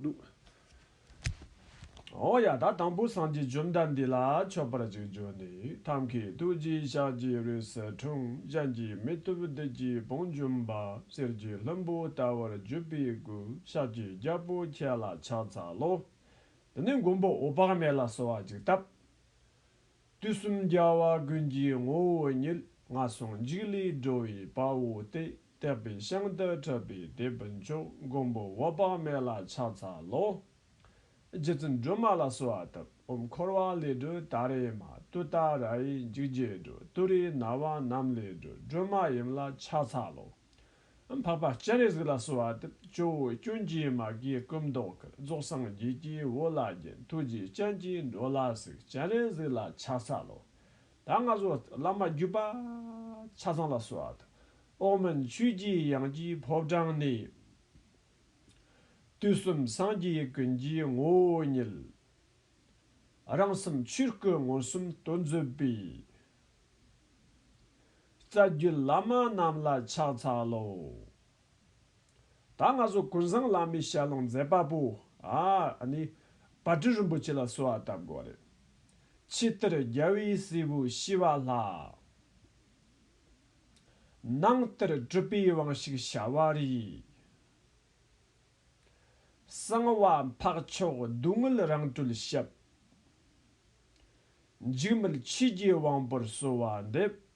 འདུག། འོ་ཡ་ད་དང་པོ་སངས་རྒྱས་བཅོམ་ལྡན་འདས་ལ་མཆོད་པར་གཅིག་བརྗོད་ནས་ཐབས་མཁས་ཐུགས་རྗེའི་ཕྱག་རྒྱའི་རོས་སུ་དྲུང་བཞེངས་ཀྱིས་མི་ཐུབ་བདུད་ཀྱི་བང་འཇོམས་པ་གསེར་གྱི་ལྷུན་པོ་ལྟ་བུར་བརྒྱུད་པའི་སྐུ་ཕྱག་གི་རྒྱལ་པོ་ཁྱེད་ལ་ཕྱག་འཚལ་ལོ། དེ་ནས་མགོན་པོ་འོད་དཔག་མེད་ལ་གསོལ་བ་འཇུག་སྟབས། དུས་གསུམ་རྒྱལ་བ་ཀུན་གྱི་ངོ་བོ་ཉིད། ངག་ཟུང་འཇིགས་ལས་སྒྲོལ་བའི་དཔའ་བོ་སྟེ། དད་པའི་ཤིང་དུ་ཁྲིད་པའི་དེད་དཔོན་མཆོག། མགོན་པོ་འོད་དཔག་མེད་ལ་ཕྱག་འཚལ་ལོ། རྗེ་བཙུན་སྒྲོལ་མ་ལ་གསོལ་བ་དབབ། འོམ་འཁོར་བ་ལས་སྒྲོལ་ད་རེ་མ། ཏུ་ཏཱ་རཱའི་འཇིགས་བརྒྱད་སྒྲོལ། ཏུ་རེའི་ན་བ་རྣམས་ལས་སྒྲོལ་སྒྲོལ་མ་ཡུམ་ལ་ཕྱག་འཚལ་ལོ། འཕགས་པ་སྤྱན་རས་གཟིགས་ལ་གསོལ་བ་འདེབས། ཇོ་བོའི་སྐྱོན་གྱིས་མ་གིའི་སྐུ་མདོག་གིས་རྫོགས་སངས་རྒྱས་ཀྱི་འོད་ལ་བརྒྱན་ཐུགས་རྗེའི་སྤྱན་གྱིས་འགྲོ་ལ་གཟིགས་སྤྱན་རས་གཟིགས་ལ་ཕྱག་འཚལ་ལོ། ད་སྔ་སོགས་བླ་མ་བརྒྱུད་པ་ཆ་ཚང་ལ་གསོལ་བ་འདེབས། ཨོག་མིན་ཆོས་ཀྱི་དབྱངས་ཀྱི་ཕོབ་དྲངས་ནས། དུས་གསུམ་སངས་རྒྱས་ཀུན་གྱི་ངོ་བོ་ཉིད། རང་སེམས་ཆོས་སྐུ་མངོན་སུམ་དུ་མཛོད་པའི། རྩ་བརྒྱུད་བླ་མ་རྣམས་ལ་ཕྱག་འཚལ་ལོ། ད་ང་ཚོ་ཀུན་བཟང་བླ་མའི་ཞལ་ལུང་མཛད་པ་པོ་ཨཱ་ནི་བ་དྲུག་རིན་པོ་ཆེ་ལ་གསོལ་བ་བཏབ་དགོས་རེད། ཕྱི་བསྟར་རྒྱལ་བའི་སྲས་པོ་ཤི་བ་ལྷ། ནང་བསྟར་སྤྲུལ་པའི་དབང་ཞིག་བྱ་བ་རིགས། གསང་བ་འཕགས་མཆོག་སྡུག་བསྔལ་རང་གྲོལ་ཞབས། འཇིགས་མེད་ཆོས་རྒྱལ་དབང་པོར་གསོལ་བ་འདེབས།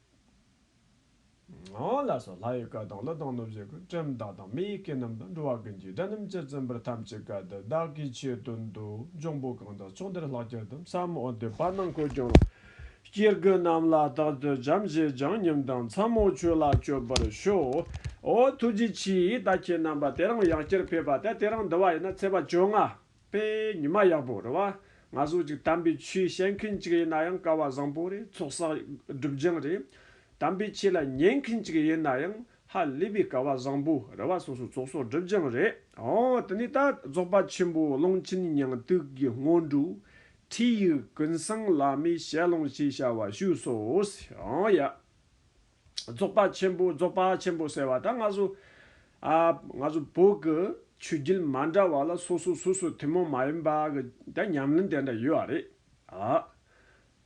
ལ་སོགས་ལྷ་ཡི་བཀའ་དང་གླུ་དང་གནོད་བྱེད་ཀུན་བཀྲམ་བདག་དང་མི་ཡི་བཀའི་རྣམ་གྲངས་འགྲོ་བ་ཀུན་གྱི་དགྲ་རྣམས་ཀྱིས་བཙན་པོར་ཐམས་ཅད་བཀའ་དེ་བདག་གིས་ཆེད་དུ་འདུལ་འབྱུང་པོ་གང་དག་ཕྱོགས་འདིར་ལྷག་ཁྱེར་དུ་མཚམས་མོ་འདི་པར་ནང་འཁོད་ཀྱང་རུང། སྐྱེ་དགུ་རྣམས་ལ་རྟག་ཏུ་བྱམས་བརྩེས་བྱང་སྙོམས་དང་མཚམས་མོ་ཆོས་ལ་སྤྱོད་པར་ཤོག། ཨོ་ཐུགས་རྗེ་ཆེའི་ད་ཁྱེད་རྣམ་པ་དེ་རང་ཡག་ཁྱེར་ཕེབས་པ་དེ་དེ་རང་འདི་བ་ཡིན་ན་ཚེས་པ་བཅོ་ལྔ། དཔེ་ཉི་མ་ཡག་པོ་རེད་བ། ང་གཟུགས་ཅིག་དམ་པའི་ཆོས་བཤད་མཁན་ཅིག་ཡིན་ན་ཡང་ཀ་བ་བཟང་པོ་རེད་ཚོགས་བསགས་སྒྲུབ་སྦྱང་རེད། དམ་པའི་ཆོས་ལ་ཉན་མཁན་ཅིག་ཡིན་ན་ཡང་ཧ་ལས་པའི་ཀ་བ་བཟང་པོ་རེད་བ་སོ་སོ་ཚོགས་བསགས་སྒྲུབ་སྦྱང་རེད། འོ་དེ་ནས་ད་རྫོགས་པ་ཆེན་པོ་གླིང་ཆེན་ཉང་ཏུག་གི་སྔོན་འགྲོའི་ཁྲིད་ཡིག་ཀུན་བཟང་བླ་མའི་ཞལ་ལུང་ཞེས་བྱ་བ་བཞུགས་སོ། འོ་ཡ། རྫོགས་པ་ཆེན་པོ་རྫོགས་པ་ཆེན་པོ་ཟེར་བ་དང་ང་ཚོ། ང་ཚོ་བོད་ཀྱི་ཆོས་བརྒྱུད་མ་འདྲ་བ་ལ་སོ་སོ་སོ་སོའི་ཐུན་མོང་མ་ཡིན་པ་གི་དེ་ཉམས་ལེན་དེ་འདྲ་ཡོད་རེད་ཨ།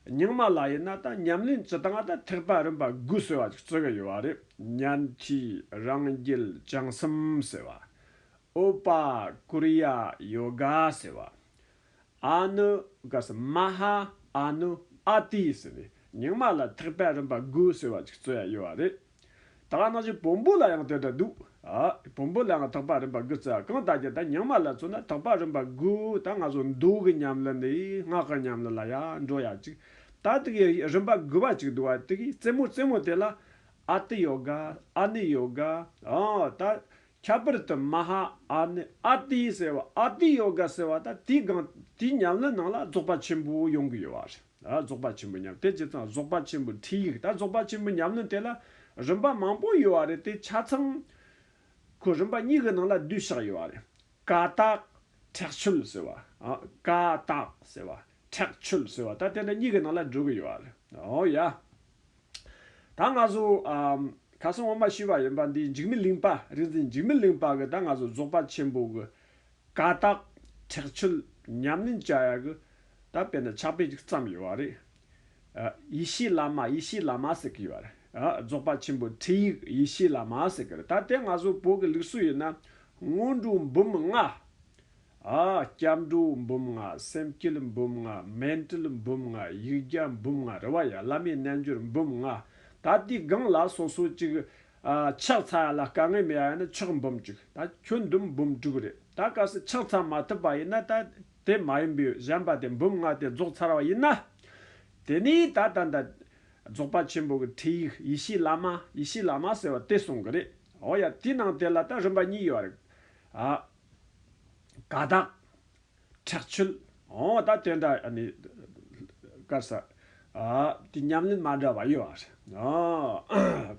རྙིང་མ་ལ་ཡིན་ན་ད་ཉམས་ལེན་བྱེད་སྟངས་ད་ཐེག་པ་རིམ་པ་དགུ་ཟེར་བ་ཅིག་བརྩི་གི་ཡོད་བ་རེད་གཉེན་གྱི་རང་རྒྱལ་བྱང་སེམས་ཟེར་བ། ཨོ་པ་ཀུ་རི་ཡ་ཡོ་ག་ཟེར་བ། ཨནུ་ཀ་སི་མ་ཧཱ་ཨནུ་ཨ་ཏི་ཟེར་ནས་ཉིང་མ་ལ་ཐེག་པའི་རིམ་པ་དགུ་ཟེར་བ་ཅིག་རྩོད་ཡ་ཡོད་བ་རེད། ད་ག་ནང་བཞིན་བོན་པོ་ལ་ཡང་དེ་འདྲ་འདུག་ཨ། བོན་པོ་ལའང་ཐེག་པ་རིམ་པ་དགུ་རྩོད་ཡ་གང་ལྟ་རྒྱུ་ད་ཉིང་མ་ལ་མཚོན་ན་ཐེག་པ་རིམ་པ་དགུ་ད་ང་ཚོ་མདོ་གི་ཉམས་ལེན་ནས་སྔགས་ཀྱི་ཉམས་ལེན་ལ་ཡ་འགྲོ་ཡ་ཅིག་ད་དེ་གི་རིམ་པ་དགུ་བ་ཅིག་འདུག་བ་དེ་གི་རྩེ་མོ་རྩེ་མོ་དེ་ལ་ཨ་ཏི་ཡོ་ག་ཨ་ནི་ཡོ་ག་ཨོ་ད་ཁྱད་པར་དུ་མ་ཧཱ་ཨ་ནི་ཨ་ཏི་ཟེར་བ་ཨ་ཏི་ཡོ་ག་ཟེར་བ་དང་དེའི་སྒང་དེའི་ཉམས་ལེན་ནང་ལ་རྫོགས་པ་ཆེན་པོ་ཡོང་གི་ཡོད་བ་རེད། རྫོགས་པ་ཆེན་པོ་ཉམས་དེ་ཇི་ཙམ་རྫོགས་པ་ཆེན་པོའི་ཁྲིད་ཡིག་དང་རྫོགས་པ་ཆེན་པོའི་ཉམས་ལེན་དེ་ལ་རིམ་པ་མང་པོ་ཡོད་བ་རེད་དེ་ཆ་ཚང་ཁོ་རིམ་པ་གཉིས་ཀྱི་ནང་ལ་བསྡུས་བཞག་ཡོད་བ་རེད། ཀ་དག་ཁྲེགས་ཆོད་ཟེར་བ། ཀ་དག་ཟེར་བ། ཁྲེགས་ཆོད་ཟེར་བ་ད་དེ་འདྲ་གཉིས་ཀྱི་ནང་ལ་བསྒྲུབ་གི་ཡོད་བ་རེད། ཨོ་ཡ། ད་ང་ཚོ་ག་ས་ངོ་མ་ཤི་བ་ཡིན་པ་འདི་འཇིགས་མི་ལིང་པ་རིག་འཛིན་འཇིགས་མི་ལིང་པ་གི་ད་ང་ཚོ་རྫོགས་པ་ཆེན་པོ་གི་ཀ་དག་ཁྲེགས་ཆོད་ཉམས་ལེན་བྱ་ཡག་གི་ད་དཔེ་ན་ཕྱག་དཔེ་ཅིག་བརྩམས་ཡོད་བ་རེད་ཨ། ཡེ་ཤེས་བླ་མ་ཡེ་ཤེས་བླ་མ་ཟེར་གི་ཡོད་བ་རེད་ཨ་རྫོགས་པ་ཆེན་པོ་ཁྲིད་ཡིག་ཡེ་ཤེས་བླ་མ་ཟེར་གི་རེད་ད་དེ་ང་ཚོ་བོད་ཀྱི་ལུགས་སྲོལ་ཡིན་ན་སྔོན་འགྲོ་འབུམ་ལྔ་སྐྱབས་འགྲོ་འབུམ་ལྔ་སེམས་སྐྱིལ་འབུམ་ལྔ་སྨན་སྤྲུལ་འབུམ་ལྔ་ཡིག་བརྒྱ་འབུམ་ལྔ་རེ་བ་ཡ་བླ་མའི་རྣལ་འབྱོར་འབུམ་ལྔ། ད་དེའི་སྒང་ལ་སོ་སོ་གཅིག། ཕྱག་འཚལ་ཡ་ལ་དཀའ་ངལ་མེད་ཡ་ཡིན་ན་ཕྱག་འབུམ་གཅིག་ད་ཁྱོད་འདུམ་འབུམ་དྲུག་རེད་ད་སྐབས་སུ་ཕྱག་འཚལ་མ་ཐུབ་པ་ཡིན་ན་ད་དེ་མ་ཡིན་པའི་གཞན་པ་དེ་འབུམ་ལྔ་དེ་རྫོགས་ཚར་བ་ཡིན་ན། དེ་ནས་ད་ད་ད། རྫོགས་པ་ཆེན་པོ་གི་ཁྲིད་ཡིག་ཡེ་ཤེས་བླ་མ་ཡེ་ཤེས་བླ་མ་ཟེར་བ་དེ་གསུང་གི་རེད། འོ་ཡ་དེའི་ནང་དེ་ལ་ད་རིམ་པ་གཉིས་ཡོད་རེད། དགའ་སྡང། ཁྲག་ཆུལ། འོང་བ་དང་དེ་འདྲ། དཀར་ས། དེ་ཉམས་ལེན་མ་འདྲ་བ་ཡོད་བ་རེད།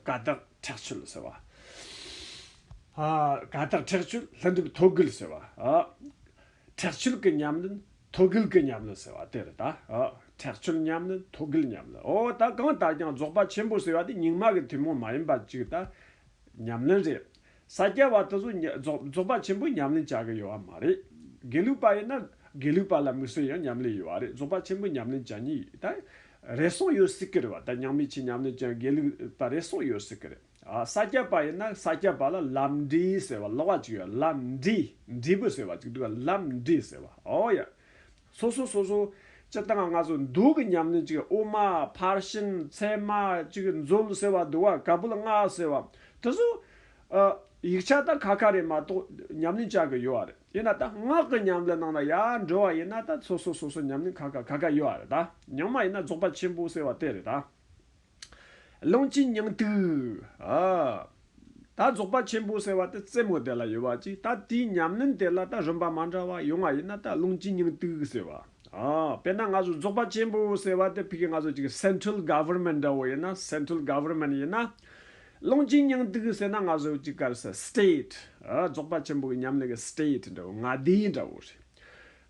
དགའ་སྡང། ཁྲག་ཆུལ་ཟེར་བ། དགའ་སྡང་ཁྲག་ཆུལ་ལྷུན་གྲུབ་ཐོད་རྒུལ་ཟེར་བ། ཁྲག་ཆུལ་གྱི་ཉམས་ལེན་ཐོད་རྒུལ་གྱི་ཉམས་ལེན་ཟེར་བ་དེ་རེད་ད། ཁྲག་ཆུལ་ཉམས་ལེན་ཐོད་རྒུལ་ཉམས་ལེན་འོ་ད་གང་ལྟར་ཀྱང་རྫོགས་པ་ཆེན་པོ་ཟེར་བ་དེ་རྙིང་མ་གི་ཐུན་མོང་མ་ཡིན་པ་ཅིག་ད། ཉམས་ལེན་རེད། ས་སྐྱ་བ་དེ་ཚོ་རྫོགས་པ་ཆེན་པོ་ཉམས་ལེན་བྱ་གི་ཡོད་བ་མ་རེད། དགེ་ལུགས་པ་ཡིན་ན་དགེ་ལུགས་པ་ལ་མི་གསོད་ཡང་ཉམས་ལེན་ཡོད་བ་རེད་རྫོགས་པ་ཆེན་པོ་ཉམས་ལེན་བྱ་ནི་ད་རེ་ཟུང་ཡོད་སྲིད་ཀྱི་རེད་བ་ད་ཉང་མི་ཆེ་ཉམས་ལེན་བྱ་དགེ་ལུགས་པ་རེ་ཟུང་ཡོད་སྲིད་ཀྱི་རེད་ཨ་ས་སྐྱ་བ་ཡིན་ན་ས་སྐྱ་བ་ལ་ལམ་འབྲས་ཟེར་བ་ལོགས་བ་ཅིག་ཡོད་ལམ་འབྲས་འབྲས་བུ་ཟེར་བ་ཅིག་འདུག་ལམ་འབྲས་ཟེར་བ་ཨོ་ཡ། སོ་སོ་སོ་སོ། སྤྱི་བཏང་ལྔ་བཟོ་འདུག་གི་ཉམས་ལེན་ཅིག་དབུ་མ་ཕར་ཕྱིན་མཚན་མ་ཅིག་མཛོད་ཟེར་བ་བསྡུ་བ་ག་བུལ་ལྔ་ཟེར་བ་དེ་ཚོ། ཡིག་ཆ་ད་ཁ་ཁ་རེད་མ་གཏོགས་ཉམས་ལེན་བྱ་གི་ཡོད་རེད་དབྱེ་ན་ད་སྔགས་ཀྱི་ཉམས་ལེན་ནང་ན་ཡར་འགྲོ་བ་ཡིན་ན་ད་སོ་སོ་སོ་སོ་ཉམས་ལེན་ཁ་ཁ་ཁ་ཁ་ཡོད་རེད་ད་ཉམས་མ་ཡིན་ན་རྫོགས་པ་ཆེན་པོ་ཟེར་བ་དེ་རེད་ད། རླུང་གི་སྙིང་ཏིག། ད་རྫོགས་པ་ཆེན་པོ་ཟེར་བ་དེ་རྩེ་མོ་དེ་ལ་ཡོད་པ་ཅིག་ད་དེའི་ཉམས་ལེན་དེ་ལ་ད་རིམ་པ་མ་འདྲ་བ་ཡོད་ང་ཡིན་ན་ད་རླུང་གི་སྙིང་ཏིག་ཟེར་བ། དཔེར་ན་ང་ཚོ་རྫོགས་པ་ཆེན་པོ་ཟེར་བ་དེ་ཕི་གི་ང་ཚོ་ཅིག Central Government འདྲ་བོ་ཡིན་ན Central Government ཡིན་ན། རླུང་གི་སྙིང་ཏིག་ཟེར་ན་ང་ཚོ་ཅིག་དཀར་ས State རྫོགས་པ་ཆེན་པོ་གི་ཉམས་ལེན་གི State འདྲ་བོ་མངའ་སྡེ་འདྲ་བོ་རེད།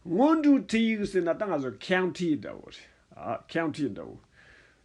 སྔོན་འགྲོའི Tig ཟེར་ན་ད་ང་ཚོ County འདྲ་བོ་རེད County འདྲ་བོ།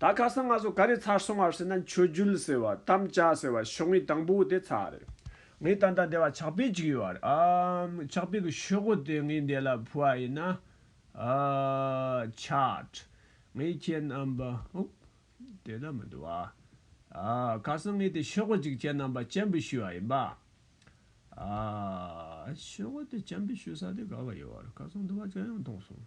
ད་ཁ་སང་ང་ཚོ་ག་རེ་ཚར་སོང་བར་ཟེར་ན་མཆོད་རྒྱུལ་ཟེར་བ་དམ་བཅའ་ཟེར་བ་ཤོག་ངོས་དང་པོ་དེ་ཚར་རེད། ངའི་ད་ལྟ་འདས་བ་ཕྱག་དཔེ་གཅིག་ཡོད་ར་ཨམ། ཕྱག་དཔེ་གི་ཤོག་ངོས་དེ་ངའི་འདས་ལ་ཕུལ་བ་ཡིན། ཆགས། ངའི་ཁྱེད་རྣམ་པ་ཨུབ། དེ་ད་མི་འདུག་ཨ། ཁ་སང་ངས་དེ་ཤོག་ངོས་གཅིག་ཁྱེད་རྣམ་པ་སྤྱན་འབུལ་ཞུས་བ་ཡིན་པ། ཤོག་ངོས་དེ་སྤྱན་འབུལ་ཞུས་ས་དེ་ག་བ་ཡོད་ར་ཁ་སང་འདུག་བ་ཅང་ཡང་མཐོང་སོང།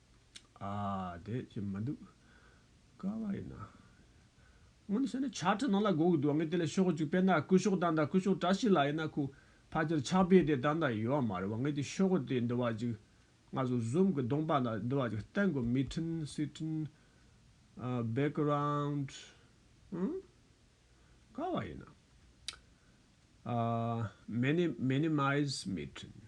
ཨ། དེ་ཅི་མི་འདུག། ཀ་བ་ཡིན་ན། སྔོན་བཤད་ན་ཕྱག་ཁྲིད་ནང་ལ་གོ་གི་འདུག་ངས་དེ་ལ་ཤོག་ཅིག་དཔེར་ན་སྐུ་ཤོག་དང་འདྲ་སྐུ་ཤོག་བཀྲ་ཤིས་ལགས་ཡིན་ན་ཁོ་ཕ་ཁྱེར་ཕྱག་དཔེ་དེ་ད་ལྟ་ཡོད་མ་རེད་བ་ངས་དེ་ཤོག་དེ་འདི་བ་ཅིག་ང་ཚོ་བཟུམ་གི་གདོང་པ་ལ་འདི་བ་ཅིག་བསྟན་དགོས་མི་ཁྲིན་སི་ཁྲིན། Background། ཨུན། ཀ་བ་ཡིན་ན། Minimize མི་ཁྲིན།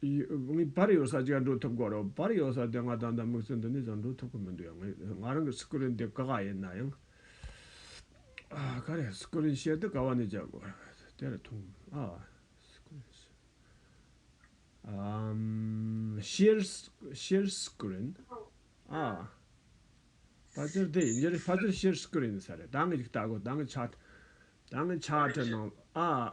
བར་ཡོད་ས་ཅིག་ཡང་འགྲོ་ཐུབ་དགོས་རེད་བར་ཡོད་ས་དེ་ང་ད་ལྟ་དམིགས་བསལ་འདི་ནས་ཀྱང་འགྲོ་ཐུབ་ཀྱི་མི་འདུག་ང་རང་གི་སི་ཀུ་རིན་དེ་དཀའ་ཁག་ཡིན་ན་ཡང། ག་རེ་སི་ཀུ་རིན་བཤད་དུས་དཀའ་བ་ནི་བྱ་དགོས་རེད་དེ་རེད་ཐུང་ཨ། སི་ཀུ་རིན་ཤེས། ཤེར། ཤེར་སི་ཀུ་རིན་ཨ། ཕ་ཅིར་དེ་ཡིན་རྒྱུ་རེད་ཕ་ཅིར་ཤེར་སི་ཀུ་རིན་ཡིན་ས་རེད་ད་ངས་ཅིག་ལྟ་དགོས་ད་ངས་ཆ། ད་ངས་ཆ་ཁྲིད་གནང་ཨ།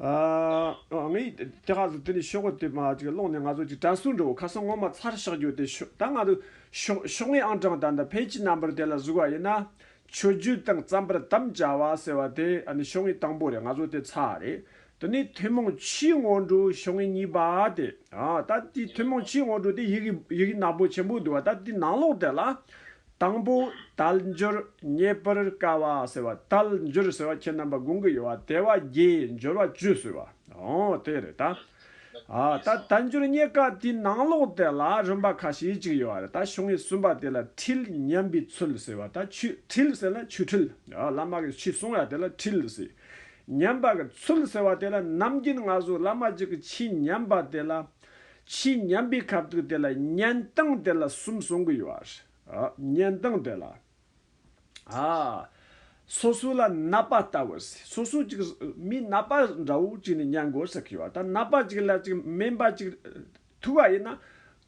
ངས་ཁ་ཟུར་དེ་ནས་ཤོག་བུ་དེ་མ་ཅིག་བླངས་ནས་ང་ཚོ་ཅིག་དྲན་སོང་འགྲོ་ཁ་སང་སྔོན་མ་ཚར་བཞག་རྒྱུ་དེ་ཤོད་ད་ང་ཚོ་ཤོག་ངེས་ཨང་གྲངས་ད་ལྟ་ཕལ་གྱི་རྣམ་པར་དེ་ལ་གཟུགས་བ་ཡིན་ན་ཆོས་རྒྱུད་དང་རྩམ་པར་དམ་བཅའ་བ་ཟེར་བ་དེ་ནི་ཤོག་ངེས་དང་པོ་རེད་ང་ཚོ་དེ་ཚར་རེད་དེ་ནས་ཐུན་མོང་ཕྱིའི་སྔོན་འགྲོ་ཤོག་ངེས་གཉིས་པ་དེ་ད་ལྟའི་ཐུན་མོང་ཕྱིའི་སྔོན་འགྲོ་དེ་ཡི་གེ་ནག་པོ་ཆེན་པོ་འདུག་ད་ལྟའི་ནང་ལོགས་དེ་ལ་དང་པོ། རྟལ་འབྱོར་རྙེད་པར་དཀའ་བ་ཟེར་བ་རྟལ་འབྱོར་ཟེར་བ་ཁྱེད་རྣམ་པ་དགོངས་ཀྱི་ཡོད་བ་དལ་བ་རྒྱས་འབྱོར་བ་བཅུ་ཟེར་བ་འོ་དེ་རེད་ད། ཨ་ད་རྟལ་འབྱོར་རྙེད་དཀའ་དེའི་ནང་ལོགས་དེ་ལ་རིམ་པ་ཁ་ཤས་ཅིག་ཡོད་བ་རེད་ད་ཤོ་ངེ་གསུམ་པ་དེ་ལ་འཁྲིལ་སྙམ་པའི་ཚུལ་ཟེར་བ་ད་ཆུ་འཁྲིལ་ཟེར་ན་ཆུ་འཁྲིལ་བླ་མ་གིས་ཆུ་གསུངས་བ་དེ་ལ་འཁྲིལ་ཟེར། ཉམས་པ་གི་ཚུལ་ཟེར་བ་དེ་ལ་ནམ་རྒྱུན་སྔ་སོར་བླ་མ་གཅིག་གིས་ཆུ་ཉམས་པ་དེ་ལ། ཕྱིས་ཉམས་པའི་ཁབ་ཐུག་དེ་ལ་གཉན་སྟངས་དེ་ལ་གསུམ་གསུང་གི་ཡོད་རེད། གཉན་སྟངས་དེ་ལ། སོ་སོ་ལ་ན་པ་ལྟ་བུ་ཟེར། སོ་སོ་ཅིག་མིའི་ན་པ་འདྲ་བོ་ཅིག་ནས་མྱངས་དགོས་ཟེར་གི་ཡོད། ད་ན་པ་ཅིག་ལ་ཅིག་སྨན་པ་ཅིག་ཐུག་པ་ཡིན་ན།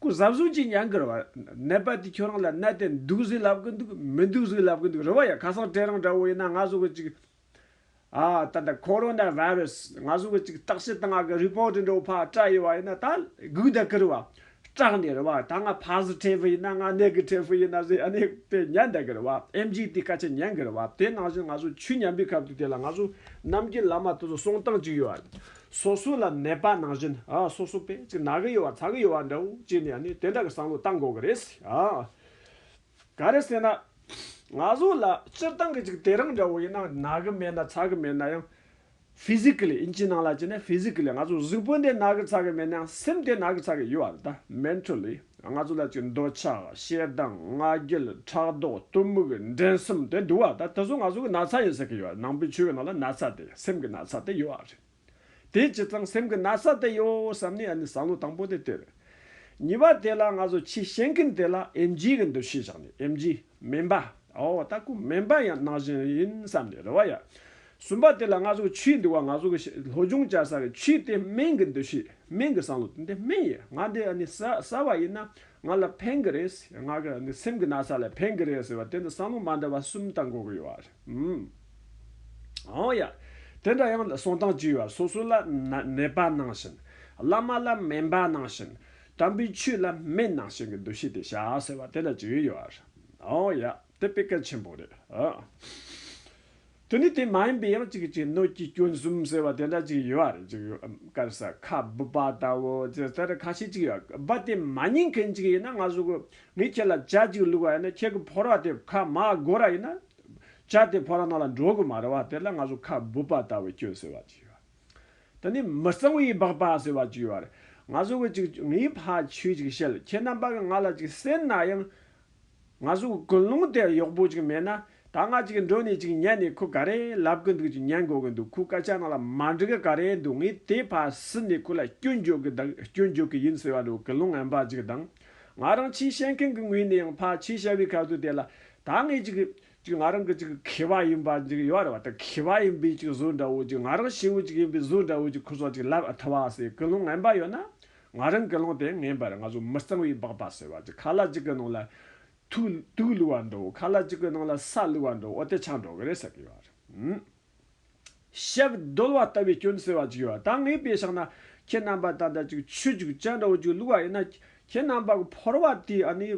ཁོས་གཟབ་གཟུབ་ཅིག་མྱངས་གི་རེད་བ། ནད་པ་དེས་ཁྱོད་རང་ལ་ནད་དེ་འདུག་ཟེར་ལབ་གི་འདུག་མི་འདུག་ཟེར་ལབ་གི་འདུག་རེད་བ་ཡ། ཁ་སང་བྲེད་རང་འདྲ་བོ་ཡིན་ན་ང་ཟོ་གི་ཅིག། ཨ་ད་ད་ཁོ་རོ་ན་བྷ་རུ་སི་ང་ཚོ་གི་ཅིག་བརྟག་བྱེད་ད་ང་གི་རི་པོ་ཏི་འགྲོ་ཕག་སྐྲ་ཡོད་བ་ཡིན་ན་ད་གུག་ད་ཀིར་བ་སྐྲག་ནས་རེད་བ་ད་ང་ཕག་ཟི་ཁྲེ་ཕི་ཡིན་ན་ང་ནད་གི་ཁྲེ་ཕི་ཡིན་ན་ཟི་ཨ་ནི་པེ་ཉན་ད་ཀིར་བ་ཨེམ་ཇི་ཏི་ཀ་ཆེ་ཉན་ཀིར་བ་དེ་ནང་བཞིན་ང་ཚོ་ཆུ་ཉམས་པའི་ཁབ་ཏུ་དེ་ལ་ང་ཚོ་ནམ་རྒྱུན་ལ་མ་ད་ད་སོང་སྟངས་ཅིག་ཡོད་བ་སོ་སོ་ལ་ནད་པ་ནང་བཞིན་ཨ་སོ་སོ་པེ་ཅིག་ན་གི་ཡོད་བ་ཚ་གི་ཡོད་བ་འདྲ་བོ་ཅིག་ནས་ཨ་ནི་དེ་འདྲ་གི་བསམ་བློ་བཏང་དགོས་ཀི་རེད་ཨ། ག་རེ་ཟེར་ན། ང་ཚོ་ལ་སྤྱིར་བཏང་གི་ཅིག་དེ་རིང་འདྲ་བོ་ཡིན་ན་ནག་གི་མེད་ན་ཚ་གི་མེད་ན་ཡང། Physically ཡིན་གྱི་ནང་ལ་གྱི་ནས Physically ང་ཚོ་གཟུགས་པོ་དེ་ནག་གི་ཚ་གི་མེད་ན་ཡང་སེམས་དེ་ནག་གི་ཚ་གི་ཡོད་བ་རེད་ད། Mentally ང་ཚོ་ལ་ཅིག་འདོད་ཆགས་ཞེ་སྡང་ང་རྒྱལ་ཕྲག་དོག་གཏི་མུག་འགྲན་གསུམ་དེ་འདུག་བ་ད་དེ་ཚོ་ང་ཚོ་གི་ན་ཚ་ཡིན་ཟེར་གི་ཡོད་རེད་ནང་པའི་ཆོས་གི་ནང་ལ་ན་ཚ་དེ་སེམས་གི་ན་ཚ་དེ་ཡོད་བ་རེད། དེ་ཇི་ཙམ་སེམས་ཀྱི་ན་ཚ་དེ་གཡོ་བསམ་ནས་ཨ་ནི་བསམ་བློ་དང་པོ་དེ་སྟེར། གཉིས་པ་དེ་ལ་ང་ཚོ་ཆེས་གཞན་ཀུན་དེ་ལ་ཨེམ་ཇི་གི་འདུ་ཤེས་བཞག་ནས་ཨེམ་ཇི། སྨན་པ། ཨོ་ལྟ་སྐུ་སྨན་པ་ཡང་ནང་བཞིན་ཡིན་བསམ་ནས་རེ་བ་ཡ། གསུམ་པ་དེ་ལ་ང་ཚོ་གི་ཆུའི་འདུ་བ་ང་ཚོ་གི་ལྷོ་སྦྱོང་བྱ་ས་གི་ཆུ་དེ་སྨན་གི་འདུ་ཤེས་སྨན་གི་བསམ་བློ་དེ་འདི་སྨན་ཡིན་ང་འདི་ཨ་ནི་ཟ་བ་ཡིན་ན་ང་ལ་ཕན་གི་རེད་ཟེར་ང་གི་ཨ་ནི་སེམས་ཀྱི་ན་ཚ་ལ་ཕན་གི་རེད་ཟེར་བ་དེ་འདི་བསམ་བློ་མ་འདྲ་བ་གསུམ་དང་འགོག་གི་ཡོད་རེད། ཨོ་ཡ། དེ་འདྲ་ཡང་ལ་སོང་སྟངས་ཅི་ཡོད་ཨ་སོ་སོ་ལ་ནད་པ་ནང་བཞིན། བླ་མ་ལ་སྨན་པ་ནང་བཞིན། དམ་པའི་ཆོས་ལ་སྨན་ནང་བཞིན་གྱི་འདུ་ཤེས་དེ་བྱ་ཟེར་བ་དེ་ལ་ཅི་ཡོད་ཨ། ཨོ་ཡ། དེ་དཔེ་གལ་ཆེན་པོ་རེད་ཨ། དེ་ནི་དེ་མ་ཡིན་པའི་ཡང་ཅིག་གཅིག་སྣོད་ཀྱི་སྐྱོན་གསུམ་ཟེར་བ་དེ་འདྲ་ཅིག་ཡོད་རེད་ཅིག་ཡོད་དཀར་ཟ་ཁ་སྦུབ་པ་ལྟ་བུ། དེ་ལྟར་ཁ་ཤས་ཅིག་ཡོད་གི་སྦ་དེ་མ་ཉན་མཁན་ཅིག་ཡིན་ན་ང་སོ་གོ་ངས་ཁྱེད་ལ་བྱ་གཅིག་བླུགས་པ་ཡིན་ན་ཁྱེད་ཀྱི་ཕོར་བ་དེ་ཁ་མ་དགོད་ར་ཡིན་ན། བྱ་དེ་ཕོར་བ་ནང་ལ་འགྲོ་གི་མ་རེད་བ་དེ་ལ་ང་ཚོ་ཁ་སྦུབ་པ་ལྟ་བུ་སྐྱོན་ཟེར་བ་ཅིག་ཡོད། དེ་ནས་མི་གཙང་བའི་སྦག་པ་ཟེར་བ་ཅིག་ཡོད་རེད། ང་ཚོ་གི་ཅིག་ངའི་ཕ་ཆོས་ཅིག་བཤད་ཁྱེད་རྣམ་པ་གི་ང་ལ་ཅིག་སེར་ན་ཡང། ང་ཚོ་གི་ཀུན་སློང་དེ་ཡག་པོ་ཅིག་མེད་ན་ད་ང་ཅིག་འགྲོ་ནས་ཅིག་ཉལ་ནས་ཁུ་ག་རེ་ལབ་གི་འདུག་ཅིག་ཉལ་འགོ་གི་འདུག་ཁུ་ག་ཅག་ནང་ལ་མ་འགྲིག་གི་ག་རེ་འདུག་ངས་དེ་ཕར་ཟིན་ནས་ཁུ་ལ་སྐྱོན་བརྗོད་གི་གདག་སྐྱོན་བརྗོད་གི་ཡིན་ཟེར་བ་འགྲོ་གི་ལུང་ངན་པ་ཅིག་དང། ང་རང་ཆེས་ཤེས་མཁན་གི་ངོས་ནས་ཡང་ཕར་ཆེས་ཤེས་པའི་ཁ་ཟུར་དེ་ལ་ད་ངས་ཅིག་ཅིག་ང་རང་གི་ཅིག་ཁེ་བ་ཡིན་པ་ཅིག་ཡོད་རེད་བ་ད་ཁེ་བ་ཡིན་པའི་ཅིག་ཟུར་འདྲ་བོ་ཅིག་ང་རང་ཤི་བོ་ཅིག་ཡིན་པའི་ཟུར་འདྲ་བོ་ཅིག་ཁུ་སོགས་ཅིག་ལབ་ཐུབ་བ་ཟེར་གི་ལུང་ངན་པ་ཡོད་ན། ང་རང་གི་ལུང་དེ་ངན་པར་ང་ཚོ་མི་གཙང་བའི་སྦག་སྦག་ཟེར་བ་ཅིག་ཁ་ལ་ཅིག་གི་ནང་ལ་ཐུགས་དུག་བསླུ་བར་འགྲོའོ་ཁ་ལ་ཅིག་གི་ནང་ལ་ས་བསླུ་བར་འགྲོའོ་དེ་ཆང་འགྲོ་གི་རེད་ཟེར་གི་ཡོད་རེད། ཞབས་རྡོལ་བ་ལྟ་བུའི་སྐྱོན་སེལ་བ་ཅིག་ཡོད་ད་ངའི་དཔེ་ཞག་ན་ཁྱེད་རྣམ་པ་ད་ལྟ་ཅིག་ཆུ་ཅིག་ཅལ་འདྲ་བོ་ཅིག་བསླུ་བ་ཡིན་ན་ཁྱེད་རྣམ་པ་གི་ཕོར་བ་དེའི་ཨ་ནི་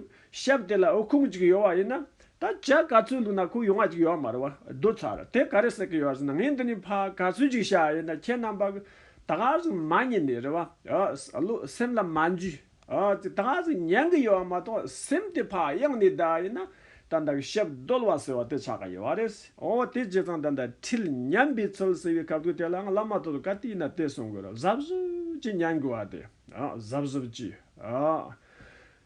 ཞབས་དེ་ལ་ཨོ་ཁུང་ཅིག་ཡོད་བ་ཡིན་ན་ད་ཇག་ག་ཚོད་བསླུ་ན་ཁོ་ཡོང་བ་ཅིག་ཡོད་མ་རེད་བ་རྡོལ་ཚར་དེ་ག་རེད་ཟེར་གི་ཡོད་ཟེར་ན་ངས་འདི་ནས་ཕ་ག་ཚོད་ཅིག་བྱ་ཡིན་ན་ཁྱེད་རྣམ་པ་གི་ད་ག་ཟེ་མ་ཉན་ནི་རེད་བ་སེམས་ལ་མ་འཇུས། དེ་དག་གིས་ཉན་གྱི་ཡོད་པ་མ་གཏོགས་སེམས་དེ་བག་ཡངས་ནས་བསྡད་ཡོད་ན། ད་ལྟ་གི་ཞབས་བརྡོལ་བ་ཟེར་བ་དེ་ཆགས་ཀྱི་ཡོད་པ་རེད། ཨོ་དེ་ཇི་ཙམ་ད་ལྟ་ཁྲིད་ཉན་པའི་ཚུལ་ཟེར་བའི་གབ་ཀྱི་དེ་ལའང་བླ་མ་ཐོག་ཏུ་ག་དུས་ཡིན་ན་དེ་གསུང་དགོས་རོགས་གཟབ་གཟུབ་ཀྱིས་ཉན་དགོས་བ་དེ། གཟབ་གཟུབ་ཀྱིས།